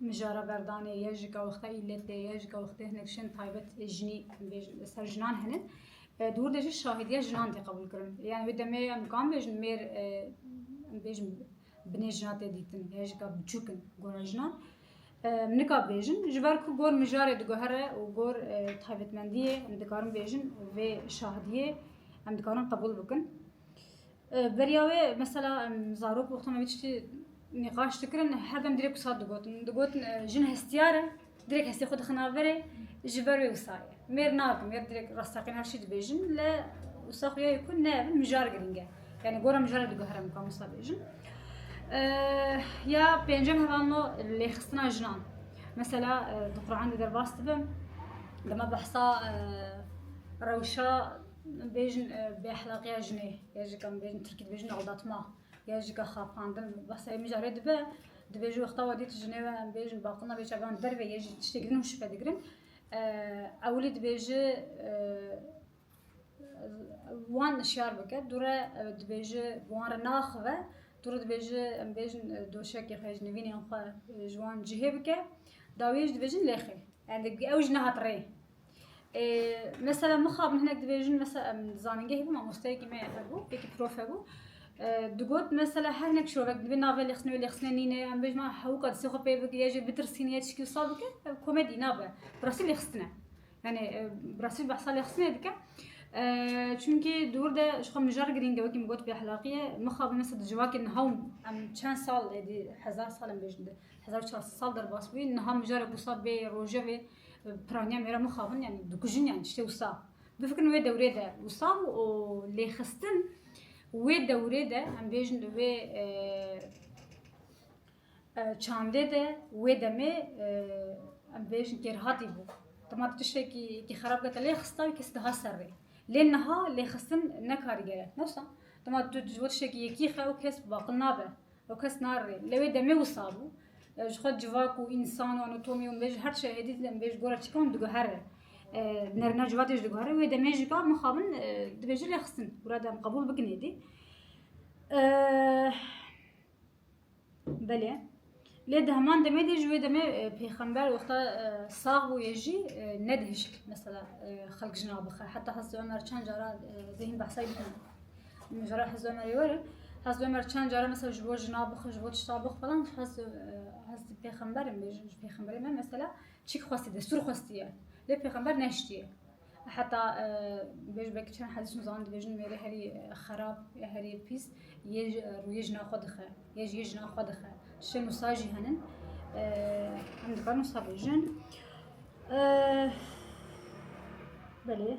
Mijara berdanê ye ji gewexta îletê ye, ji gewextê hinek şên taybet ê jinî li ser jinan hene. Di wir de jî şahidiya jinan tê qebûlkirin. Yani wê demê em nikam bêjin mêr em bêjin binê jina tê dîtin ya jî ka biçûk in gora jinan. Em nika bêjin ji ber ku gor mijarê diguhere û gor taybetmendiyê em dikarin bêjin vê şahidiyê em dikarin qebûl bikin. Beriya wê mesela em zarok wexta me vê tiştî nîqaş dikirin herdem dirêk wisa digotin. Digotin jin hestiyar e, dirêk hestê xwe dixin averê ji ber wê wisa ye. Mêr nakin, mêr dirêk rasteqîn her şî dibêjin le wisa xwe ya ye ku ne mijar girîng e. Yani gora mijara diguhere mukam wisa bêjin. Ya pêncem heval no lêxistina jinan. Mesela di Qur'an de derbas dibim dema behsa rewşa Bêjin bêexlaqiya jinê ya ji kan bêjin tirkî dibêjin aldatma ya ji ka xapandin behsa yê mijarê dibe dibêjin wexta wê dî tu jinê we em bêjin baqilina bê çavan derve yê jî tiştê girin û şife digirin ewilî dibêji wan şiyar bike dû re dibêji bi wan re naxive dû re dibêji em bêjin doşekê xwe ji nivînên xwe ji wan cihê bike dawiyê jî dibêjin lêxê ew jî nehat rê Mesela mixabin hinek dibêjin mesela em zanîngehê bû mamosteyekî me hebû yekî prof hebû digot mesela her hinek şovek dibê navê lêxistinê wê lêxistinê nîne em bêjin ma hewka disê xwe pê bike jê bitirsîne ya çikî wisa bike ev komedî nabe bi rastî lêxistine yani bi rastî behsa lêxistinê dike çunkî di wir de ji xwe mijar girîng e wekî min got bêexlaqîye mixabin mesela di civakê niha û em çend sal êdî hezar sal em bêjin di hezar û çar sed sal derbas bûyî niha mijarek wisa bê rojevê Piraniya mêra mixabin yani dikujin yani işte wisa. Bifikirin wê dewrê de wisa û lêxistin wê dewrê de em bêjin wê e, e, çandê de wê demê e, em bêjin kêrhatî bû. Dema tiştekî ki xerab kete lê xista wî kes diha ser rê. Lê niha lêxistin ne karîger e. Newsa dema tu ji bo tiştekî yekî xe û kes baqil nabe. Ew kes nare. Li wê demê wisa bû. Ji xwe civak û însan û anatomî û min bêje her şehêdî dide min bêje gora çîkan diguhere. Nerina civatê jî diguhere. Wê demê jî ka mixabin dibêje lê xistin. Gura dem qebûl bikin êdî. Belê. Lê di heman demê de ji wê demê pêxember wexta sax bûyê jî nedihişt mesela xelk jina bixe. Heta Hezreti Ömer çend cara zehîn behsayî bikin. Mijara Hezb Ömerê were. Hezb Ömer çend cara mesela ji bo jina bixu, ji bo tişta bixu falan hez hez pêxemberim bê, ji pêxemberê me mesela çîk xwestiye, destûr xwestiye. Lê pêxember neştiye. Heta e, bêj belkî çend hedîs nizan dibêjin mêrê herî e, xerab ya herî pîs yê ji- e, rûyê jina xwe dixe, yê ji yê jina xwe dixe. Şê nûsa jî henin. E, Em dikarin nûsa bêjin. E, Belê.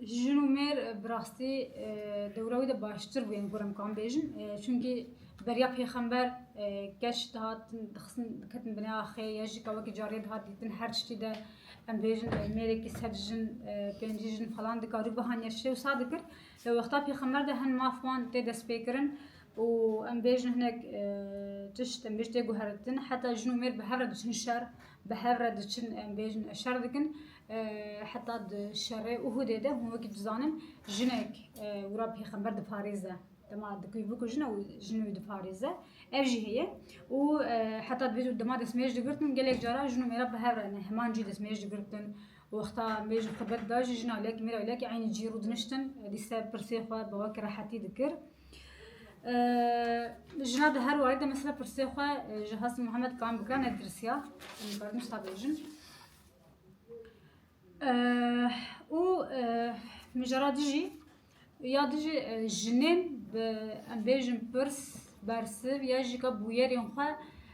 Jin û mêr bi rastî dewra wî de baştir bû yên ku em kan bêjin. Çunkî beriya pêxember keç dihatin dixistin diketin binê axê ya jî ka wekî cariyê dihat dîtin her tiştî de em bêjin mêrekî sed jin pêncî jin falan dikarî bihaniya şê wisa dikir. Li wexta pêxember de hin maf wan tê destpêkirin û em bêjin hinek tişt em bêjin tê guheritin heta jin û mêr bi hev re diçin şer Bi hev re diçin em bêjin ev şer dikin. Heta di şerê Uhudê de hûn wekî dizanin jinek û ra pêxember diparêze. Dema di kuyê bikujin ew jin wî diparêze. Ev jî heye û heta di vê dema destmêj digirtin gelek cara jin û mêra bi hev re ne heman cî destmêj digirtin. Wexta em bêjin xwe bed da jî jina lek mêra lek eynî cî rû diniştin dîse pirsê xwe bi wekî rehetî dikir. Jina di her warî de mesela pirsê xwe ji Has Muhammed Kan bike ne tirsiya bermiş ta bêjin. û mijara dijî ya dijî jinên bi em bêjin pirs bersiv ya jî ka bûyerên xwe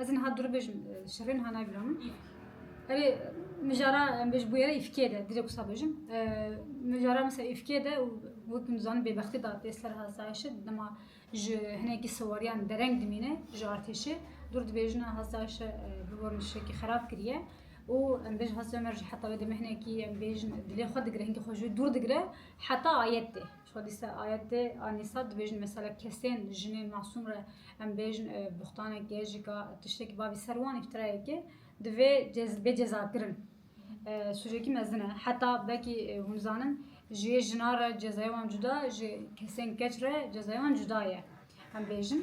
Ez niha duru bêjim şerê niha nayê vira min. Erê min jara em bêj bûye re îfkê de dirê kusa bêjim. Min jara mesela îfkê de û wek min dizanin bêbextî da tê ser hastayişi dema ji hinekî siwariyan dereng dimîne ji artêşê dûr dibêjin hastayişe bi bo min şekî xerab kiriye û em bêj hastaya me jî heta wê demê hinekî em bêjin dilê xwe digire hinkê xwe ji wê dûr digire heta ayet tê. Hadîse ayetê Anîsa dibêjin mesela kesên jinên masûm re em bêjin buxtanekê jika tiştekî bavî ser wan îftirayekê divê bê cezakirin. Sûcekî mezin e. Heta vekî hûn zanin jiyê jinan re cezayê wan cuda jê kesên keç re cezayê wan cuda ye. Em bêjin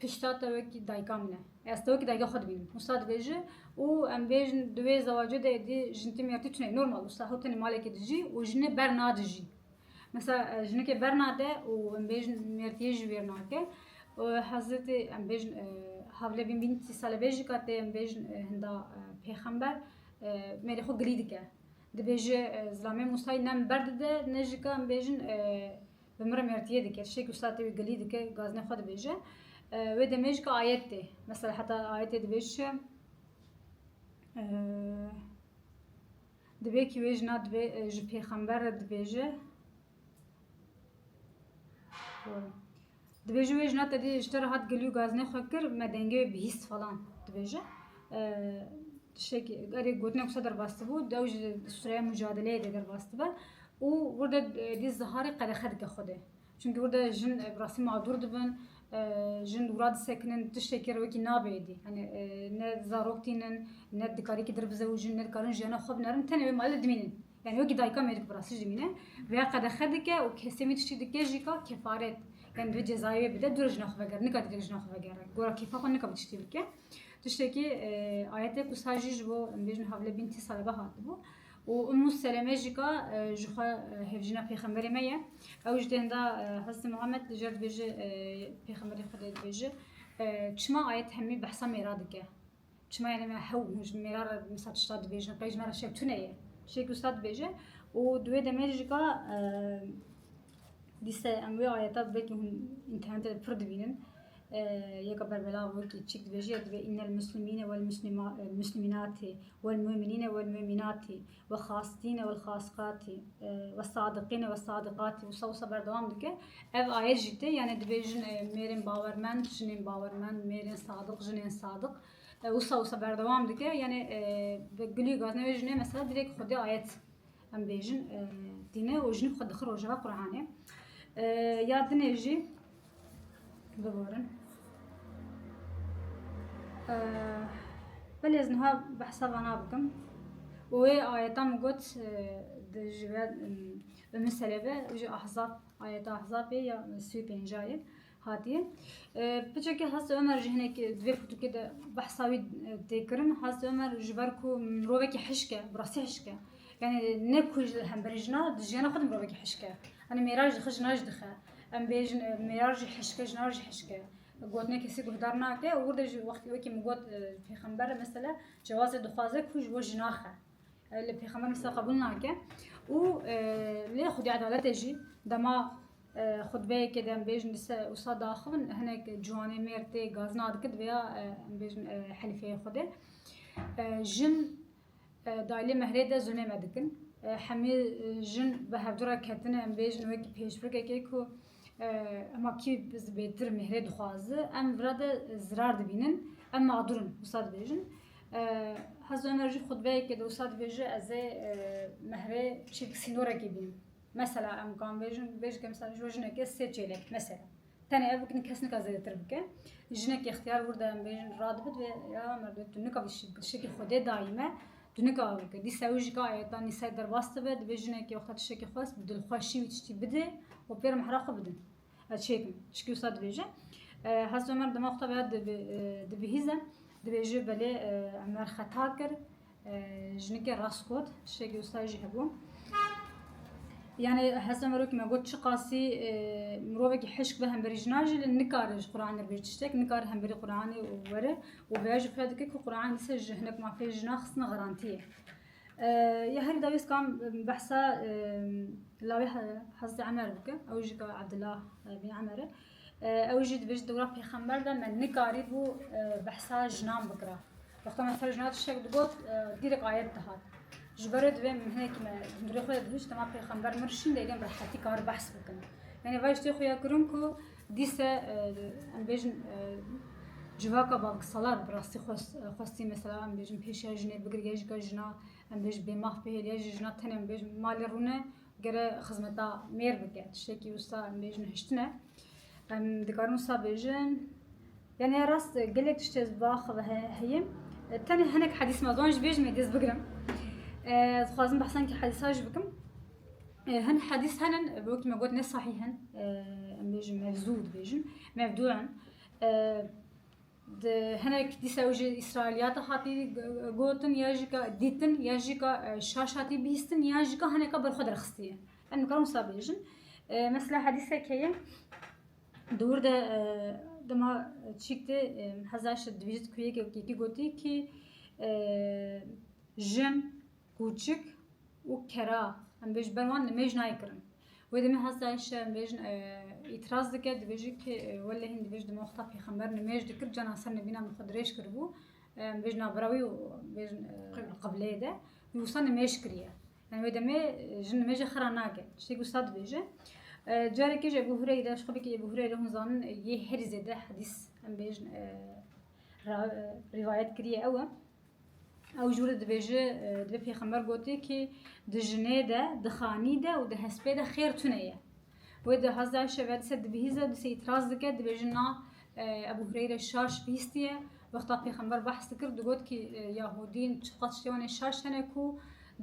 Pişta te wekî dayika min e. Ez te wekî dayika xwe dibînim. Wisa dibêje û em bêjin di wê zewacê de êdî jin tîmî ertî tuneyê. Normal wisa hew tenê malekê dijî û jinê ber nadijî. Mesela jinikê ber nade û em bêjin mêrtiyê ji wêr nake. Hezretê em bêjin havle bîn bîn tî sale bêjî ka tê em bêjin hinda pêxember mêrê xwe gilî dike. Dibêje zilamê Musayî ne min ber dide ne jî ka em bêjin Bi mire mertiyê dike, tiştê ku state wî gilî dike, gaznê xwe dibêje. Wê demê jî ka ayet tê. Mesela heta ayetê dibêj çi? Dibê ki wê jina dibê ji pêxember re dibêje. Dibêje wê jina tevî ji te re hat gilî û gazinê xwe kir, me dengê wê bihîst falan dibêje. Tiştekî erê gotinek wisa derbastibû, dew ji sûreya mucadeleyê de derbastibe û wir de dî ziharê qedexe dike xwe de. Çunkî wir de jin bi rastî madûr dibin, jin wira disekinin, tiştekî re wekî nabe êdî. Yanî ne zarok tînin, ne dikarî wekî dir bizewicin, ne dikarin jiyana xwe binerin, tenê wê malê de dimînin. Yanî wekî dayika mêrik bi rastî jimîne vêya qedexe dike û kesê wî tiştî dike jî ka kefaret yanî divê cezayê wê bide dûre jina xwe vegere nika divê jina xwe vegere gora kêfa xwe nika vî tiştî bike tiştekî ayetê ku sar jî ji bo em bêjin havle bîn tî sale ve hatibû û Ummu Seleme jî ka ji xwe hevjîna pêxemberê me ye ew ji dêhenda Hezretê Muhammed li jer dibêje pêxemberê Xwedê dibêje çima ayet hemî behsa mêra dike Çima yani me hew hûn ji mêra re mesela tişta dibêjin, qey ji me re şev tune ye. Tiştê ku usta dibêje û di wê demê de jîka dîse em wê ayeta belkî hûn înternetê de pir dibînin. Yeka berbelav wekî çîk dibêje ya divê innel muslimîne wel muslimînatî wel muminîne wel muminatî We xastîne wel xasqatî, we sadiqîne wel sadiqatî wisa wisa berdewam dike. Ev ayet jî tê yanê divê jin ê mêrên bawermend jinên bawermend, mêrên sadiq jinên sadiq wisa wisa berdewam dike. Yanê bi gilî gatine wê jinê mesela divê ku xwedî ayet em bêjin tîne û jinî bi xwe dixin rojeva Quranê. Ya dinê jî Biborin. Belê ez niha behsa vana bikim. û wê ayeta min got di ji ve bi min serê ve ji ahzab ayeta ahzabê ya sî û pêncayê hatiye. Piçekî Hazreti Ömer ji hinekî di vê fotokê de behsa wî tê kirin. Hazreti Ömer ji ber ku mirovekî hişk e, bi rastî hişk e. Yani ne ku ji hemberî jina, di jiyana xwe de mirovekî hişk e. Yani mêra jî dixe, jina jî dixe. Em bêjin mêrar jî hişke, jinar jî hişke. Gotinê kesî guhdar nake û wir de jî wextî wekî min got pêxember mesela cewazê dixwaze ku ji bo jî naxe. Li pêxember mesela qebûl nake û lê xwedî edaletê jî dema xutbeyekê de em bêjin dise wisa daxivin hinek ciwanê mêr tê gazina dike diviya em bêjin helîfeyê xwedê. Jin Daylê mehrê de zûnê me dikin. Hemî jin bi hevdu re ketine em bêjin wekî pêşbirkekê ku hema kî zibêtir mehrê dixwazi em vira de zirar dibînin em mağdur in wisa dibêjin. Hezo Emer jî xutbeyekê de wisa dibêje ez ê mehrê çîrk sînorekê bînim. Mesela em kan bêjin bêjike mesela ji bo jinekê sê çêlek mesela. Tenê ev bikin kes nika zêdetir bike. Jinekî ixtiyar wir de em bêjin radibit ve ya merdê tu nika vî şik şekî xwedê dayî me tu nika ew bike. Dîsa ew jî ka ayeta nîsayê derbas dibe dibê jinekî wexta tu şekî xwest bi dilxweşî wî tiştî bidê û pê re mehra xwe bidin. Ez çêkim. Çikî wisa dibêje. Hezreti Ömer dema wexta veya dibihîze dibêje belê Ömer xeta kir. Jinike rast got, tiştekî wisa jî hebû. Yani hesa merokî me got çiqasî mirovekî hişk bi hemberî jinan jî li nikare ji Qur'anê re bê tiştek, nikare hemberî Qur'anê were û vêya jî fira dike ku Qur'an li ser ji hinek mafê jinan xistina xerantiyê. Ya herî dawî ez kam behsa lawê Hezretê Emer bike, ew jî ka Ebdullah bin Emer e. Ew jî dibêjin dewra pêxember de me nikarîbû behsa jinan bikira. Wexta me ser jinan tiştek digot dîrek ayet dihat. Ji ber wê divê hinekî me hundirê xwe de dihişt dema pêxember mir şîn lê gelek rehetî kar behs bikin. Yani vay işte xuya kurun ku dise em bêjin civaka bavik salar bi rastî xwestî mesela em bêjin pêşiya jinê bigir ya jî ka jina em bêjin bêmah bihêl ya jî jina tenê em bêjin malê rûne Gere xizmeta mêr bike tiştekî wisa em bêjin hiştin e. Em dikarin wisa bêjin yani ya rast gelek tişt ez vax ve heye. Tenê hinek hedîs me zon ji bêjin me dest bigirim. Dixwazim behsan ki hedîsa ji bikim. Hin hedîs henin bi wekî me got ne sahî hin. Em bêjin mevzû dibêjin. Mevdû in. Di hinek dîsa ew jî Îsraîliyata hatî gotin ya jî ka dîtin ya jî ka şaş hatî bîstin ya jî ka hineka ber xwe derxistiye. Em dikarin wisa bêjin. Mesela hedîsek heye dûr de dema çîk tê heza şi divîjit kuyêkê kî gotî kî jin Kûçik û kera em dê ji ber wan nimêj nayê kirin. Wê demê hasta Aîşe em dibêjin îtiraz dike dibêje ki welleh hîn dibêje di me wexta pêxember nimêj dikir canan ser nivîna min xwe dirêj kiribû em dibêjin navbera wî û bêjin qibleyê de wî wisa nimêj kiriye. Yani wê demê jin nimêjê xira nake. Tiştekî wisa dibêje. Carekê ji Ebû Hureyre ji xwebekî Ebû Hureyre hûn zanin yê herî zêde hedîs em bêjin rivayet kiriye ew e. Ew jû re dibêje divê pêxember gotê ki di jinê de, di xanî de û di hespê de xêr tune ye. Wê di haz dayişe ve dise dibihîze û dise îtîraz dike dibêje na Ebu Hureyre şaş bihîstiye. Wexta pêxember behs dikir digot ki Yahûdîn çiqas tiştê wanê şaş hene ku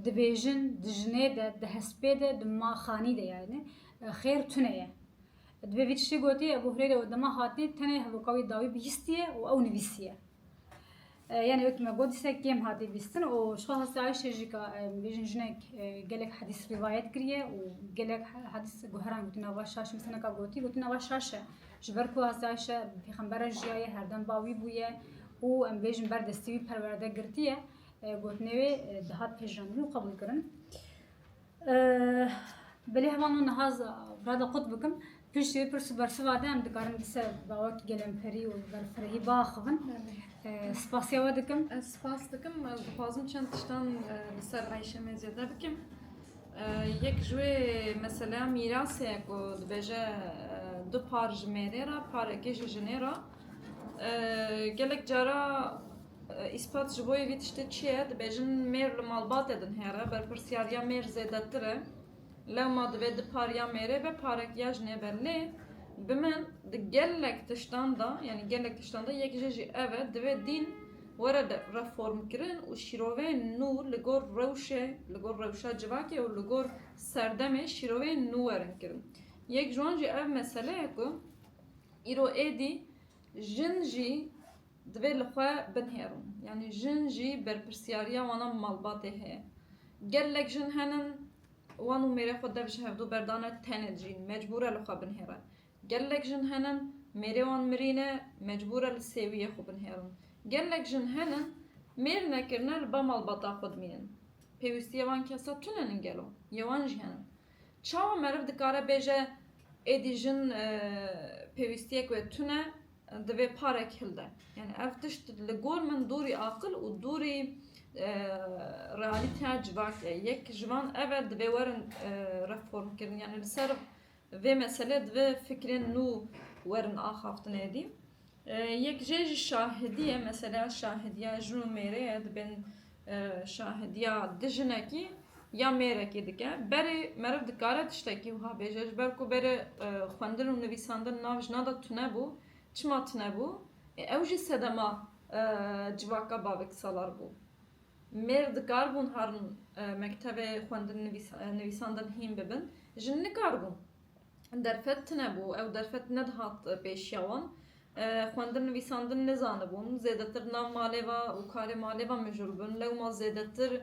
dibêjin di jinê de, di hespê de, di ma xanî de yani xêr tune ye. Divê vî tiştê gotê Ebu Hureyre û dema hatî tenê hevoka wî dawî bihîstiye û ew nivîsiye. Yanî wek me got dîsa kêm hatî bîstin û ji xwe hasta Ayşe jî ka em bêjin jinek gelek hedîs rîvayet kiriye û gelek hedîs guheran gotin nava şaş mesela ka gotî gotin nava şaş e ji ber ku hasta Ayşe bi pêxember re jiyaye herdem ba wî bûye û em bêjin ber destê wî perwerde girtiye gotinê wê dihat pejirandin û qebûlkirin. Belê heval min niha Rada qut bikim. Piştî wê pirs û bersiva de em dikarin di ser bawek gelemperî û berfirehî biaxivin. Spasiya we dikim. Ez spas dikim. Ez dixwazim çend tiştan li ser Ayşemê zêde bikim. Yek ji wê meseleya mîrasê ye ku dibêje du par ji mêrê re, parekê ji jinê re. Gelek cara Îspat ji bo vê tiştê çi ye? Dibêjin mêr li malbatê din hêr e, berpirsyariya mêr zêdetir e. Lewma divê di pariya mêrê be parek ya jinê be. Lê bi min di gelek tiştan de, yanî gelek tiştan de yek jê jî ev e, divê dîn were reformkirin û şîroveyên nû li gor rewşê, li gor rewşa civakê û li gor serdemê şîroveyên nû werin kirin. Yek ji wan jî ev mesele ye ku îro êdî jin jî, Divê li xwe binihêrin. Yanî jin jî berpirsyariya wan a malbatê heye. Gelek jin henin wan û mêrê xwe dev ji hevdu ber dane tenê dijîn, mecbûr e li xwe binihêre. Gelek jin henin mêrê wan mirî ne, mecbûr e li sêwiyê xwe binihêrin. Gelek jin henin mêr nekirine li ba malbata xwe dimînin. Pêwîstiyê wan kesa tune nin gelo? Yê wan jî henin. Çawa meriv dikare bêje êdî jin pêwîstiyek wê tune Divê parek hilde. Yani ev tişt li gor min dûrî aqil û dûrî realîteya civak e. Yek ji van ev e divê werin reformkirin. Yani li ser vê meselê divê fikrên nû werin axaftinê dî. Yek jê jî şahidî ye. Meseleya şahidîya jin û mêrê ye. Dibên Şahidiya di jinekî ya mêrekî dike. Berê meriv dikare tiştekî wiha bêje, ji ber ku berê xwendin û nivîsandin nav jina de tune bû. Çima tune bû? Ê ew jî sedema civaka bavek salar bû. Mêr dikaribûn harin mektebê xwendin nivîsandin hîn bibin, jin nikaribûn. Derfet tune bû, ew derfet nedihat pêşiya wan. Xwendin nivîsandin nizanibûn, zêdetir nav malê ve û karê malê ve mijûl bûn. Lewma zêdetir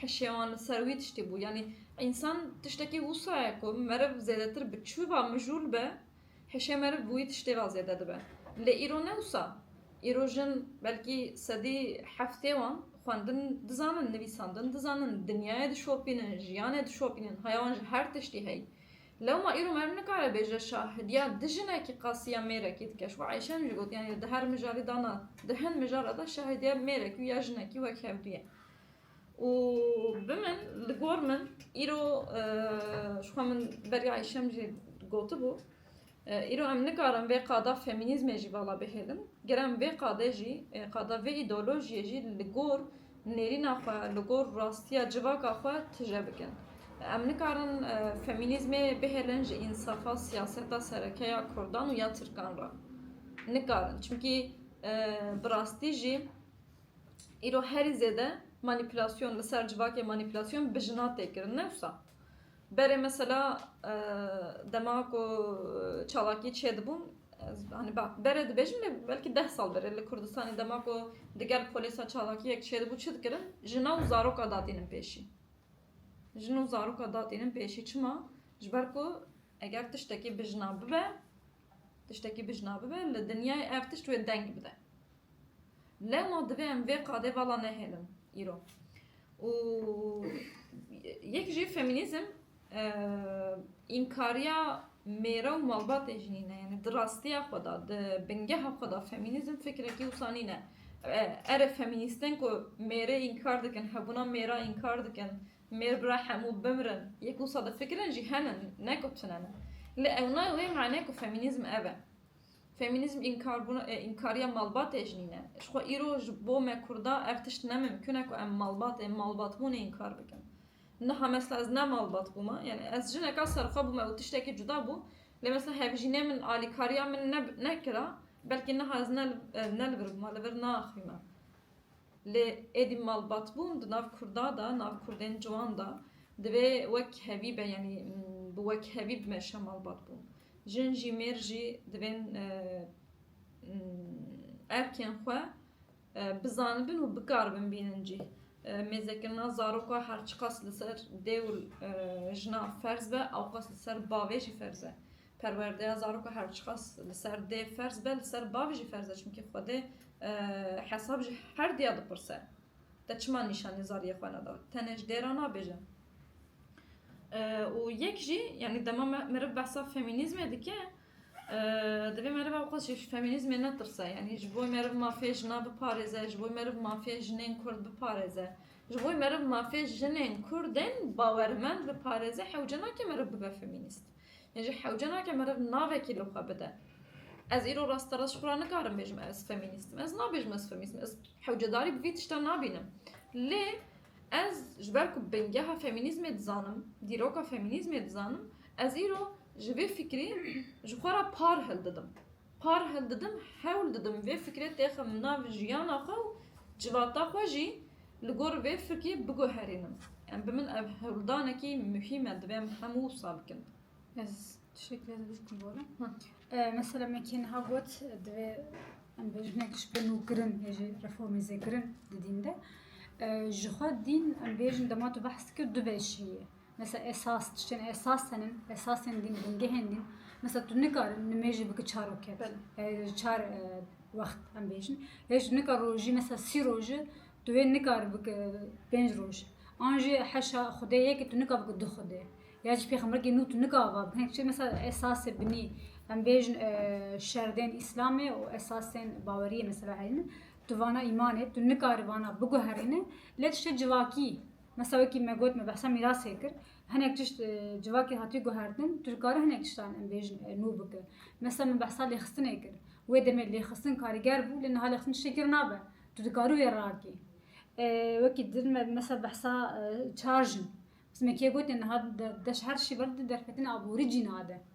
hişê wan li ser wî tiştî bû. Yanî însan tiştekî wisa ye ku meriv zêdetir bi çi ve mijûl be, hişê meriv bi wî tiştê ve zêde dibe. Lê îro ne wisa. Îro jin belkî sedî heftê wan xwendin dizanin, nivîsandin dizanin, dinyayê dişopînin, jiyanê dişopînin, haya wan ji her tiştî heyî. Lewma îro merv nikare bêje şahidiya di jinekî qasiya mêrekî dike. Ji bo Eyşe em jî gotiyan îro di her mijarî de na, di hin mijara de şahidiya mêrekî û ya jinekî wek hev dûye. Û bi min, li gor min îro ji xwe min beriya Eyşe em jî gotibû, Îro em nikarin vê qada femînîzmê jî vala bihêlin. Ger em vê qadê jî, qada vê îdeolojiyê jî li gor nêrîna xwe, li gor rastiya civaka xwe tije bikin. Em nikarin femînîzmê bihêlin ji însafa siyaseta sereke ya kurdan û ya tirkan re. Nikarin. Çimkî bi rastî jî îro herî zêde manîpîlasyon li ser civakê manîpîlasyon bi jinan tê kirin ne wisa. Berê mesela dema ku çalakî çêdibûm hani berê dibêjim lê belkî deh sal berê li Kurdistanê dema ku digel polêsa çalakiyek çêdibû çi dikirin? Jina û zaroka datînin pêşî. Jin û zaroka datînin pêşî çima? Ji ber ku eger tiştekî bi jina bibe, tiştekî bi jina bibe li dinyayê ev tişt wê deng bide. Lewma divê em vê qadê vala nehêlin îro. Û yek jî femînîzm înkariya mêre û malbatê jî nîne. Yanî di rastiya xwe de, di bingeha xwe de femînîzm fikrekî wisa nîne. Erê femînîstên ku mêrê înkar dikin, hebûna mêra înkar dikin, mêr bira hemû bimirin, yek wisa difikirin jî hene ne ku tune ne. Lê ew nayê wê manê ku femînîzm ev e. Femînîzm înkarbûna ê înkariya malbatê jî nîne. Ji xwe îro ji bo me kurdan ev tişt ne mimkun e ku em malbatê malbatbûnê înkar bikin. Niha mesela ez ne malbat bûme yanî ez jineka serxwe bûme û tiştekî cuda bû lê mesela hevjînê min alîkariya min nekira belkî niha ez ne li vir bûme li vir naxwîme. Lê êdî malbatbûn di nav Kurda de, nav Kurdên ciwan de divê wek hevî be yanî bi wek hevî bimeşe malbatbûn. Jin jî mêr jî divên erkên xwe bizanibin û bikaribin bînin cî. Mêzekirina zaroka her çiqas li ser dê û jina ferz be ewqas li ser bavê jî ferz e. Perwerdeya zaroka her çiqas li ser dê ferz be, li ser bav jî ferz e çimkî Xwedê hesab ji her diya dipirse, Te çima nîşanî zariyê xwe neda? Tenê ji dê re nabêjin. Û yek jî yanî dema me meriv behsa femînîzmê dike, divê meriv ew qas jî ji femînîzmê netirse. Yanî ji bo meriv mafê jina biparêze, ji bo meriv mafê jinên kurd biparêze, ji bo meriv mafê jinên kurdên bawermend biparêze hewce nake meriv bibe femînîst. Yê jî hewce nake meriv navekî li xwe bide. Ez îro rasterast ji xwe re nikarim bêjim ez femînîst im. Ez nabêjim ez femînîst im. Ez hewcedarî bi vî tiştan nabînim. Lê ez ji ber ku bingeha femînîzmê dizanim, dîroka femînîzmê dizanim, ez îro ji vê fikrî ji xwe re par hildidim. Par hev didim, hewl didim vê fikrê têxim nav jiyana xwe û civata xwe jî li gor vê fikê biguherînim. Em bi min ev hewldanekî muhîm e divê em hemû wisa bikin. Ez tiştekî lê divê bikim borim. Mesela min kê niha got divê em bi jinek ji bin û kirin yê jî reformê zêkirin di dîn de. Ji xwe dîn em bêjin dema tu behs dikir du beşî ye. Mesela esas, tiştên esas hene, esasên din, bingehên din. Mesela tu nikarin nimêjî biki çar roket. Yani çar e, wext em bêjin. Hêj tu nikar rojî mesela sî roji tu wê nikar biki pênc roj. An jî heşa xwedê yekê tu nikar biki du xwedê. Ya jî pêxemberekî nû tu nikar va biki. Hinek çi mesela esasê binî em bêjin e, şerdên îslamê û esasên baweriyê mesela hene. Tu vana îmanê tu nikar vana biguherîne lê tiştê civakî Mesa wekî me got me behsa mîrasê kir. Hinek tişt civakê hatiye guhertin, tu dikare hinek tiştan em bêjin nû bike. Mesa me behsa lêxistinê kir. Wê demê lêxistin karîger bû lê niha lêxistin tiştê kir nabe. Tu dikarî wê rakî. Wekî din me mesa behsa çar jin. Mesa me kê gotê niha di deş her şî ver di derfetinê aborî cîna de.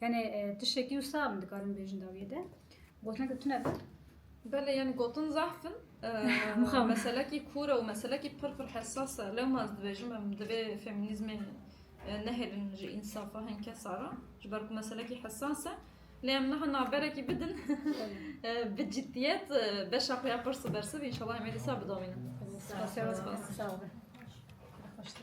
Yanî tiştekî wisa min dikarim bêjin dawiyê de. Gotineke tune be. Belê yanî gotin zehf in. Mixabin. Meselekî kûr e û meselekî pir pir hessas e. Lewma ez dibêjim em divê femînîzmê nehêlin ji însafa hin kesa re. Ji ber ku meselekî hessas e. Lê em niha naberekî bidin bi ciddiyet beşa xwe ya pirs û bersiv înşallah em ê dîsa bidawînin. Spas. Spas. Sağ ol be. Xweş tê.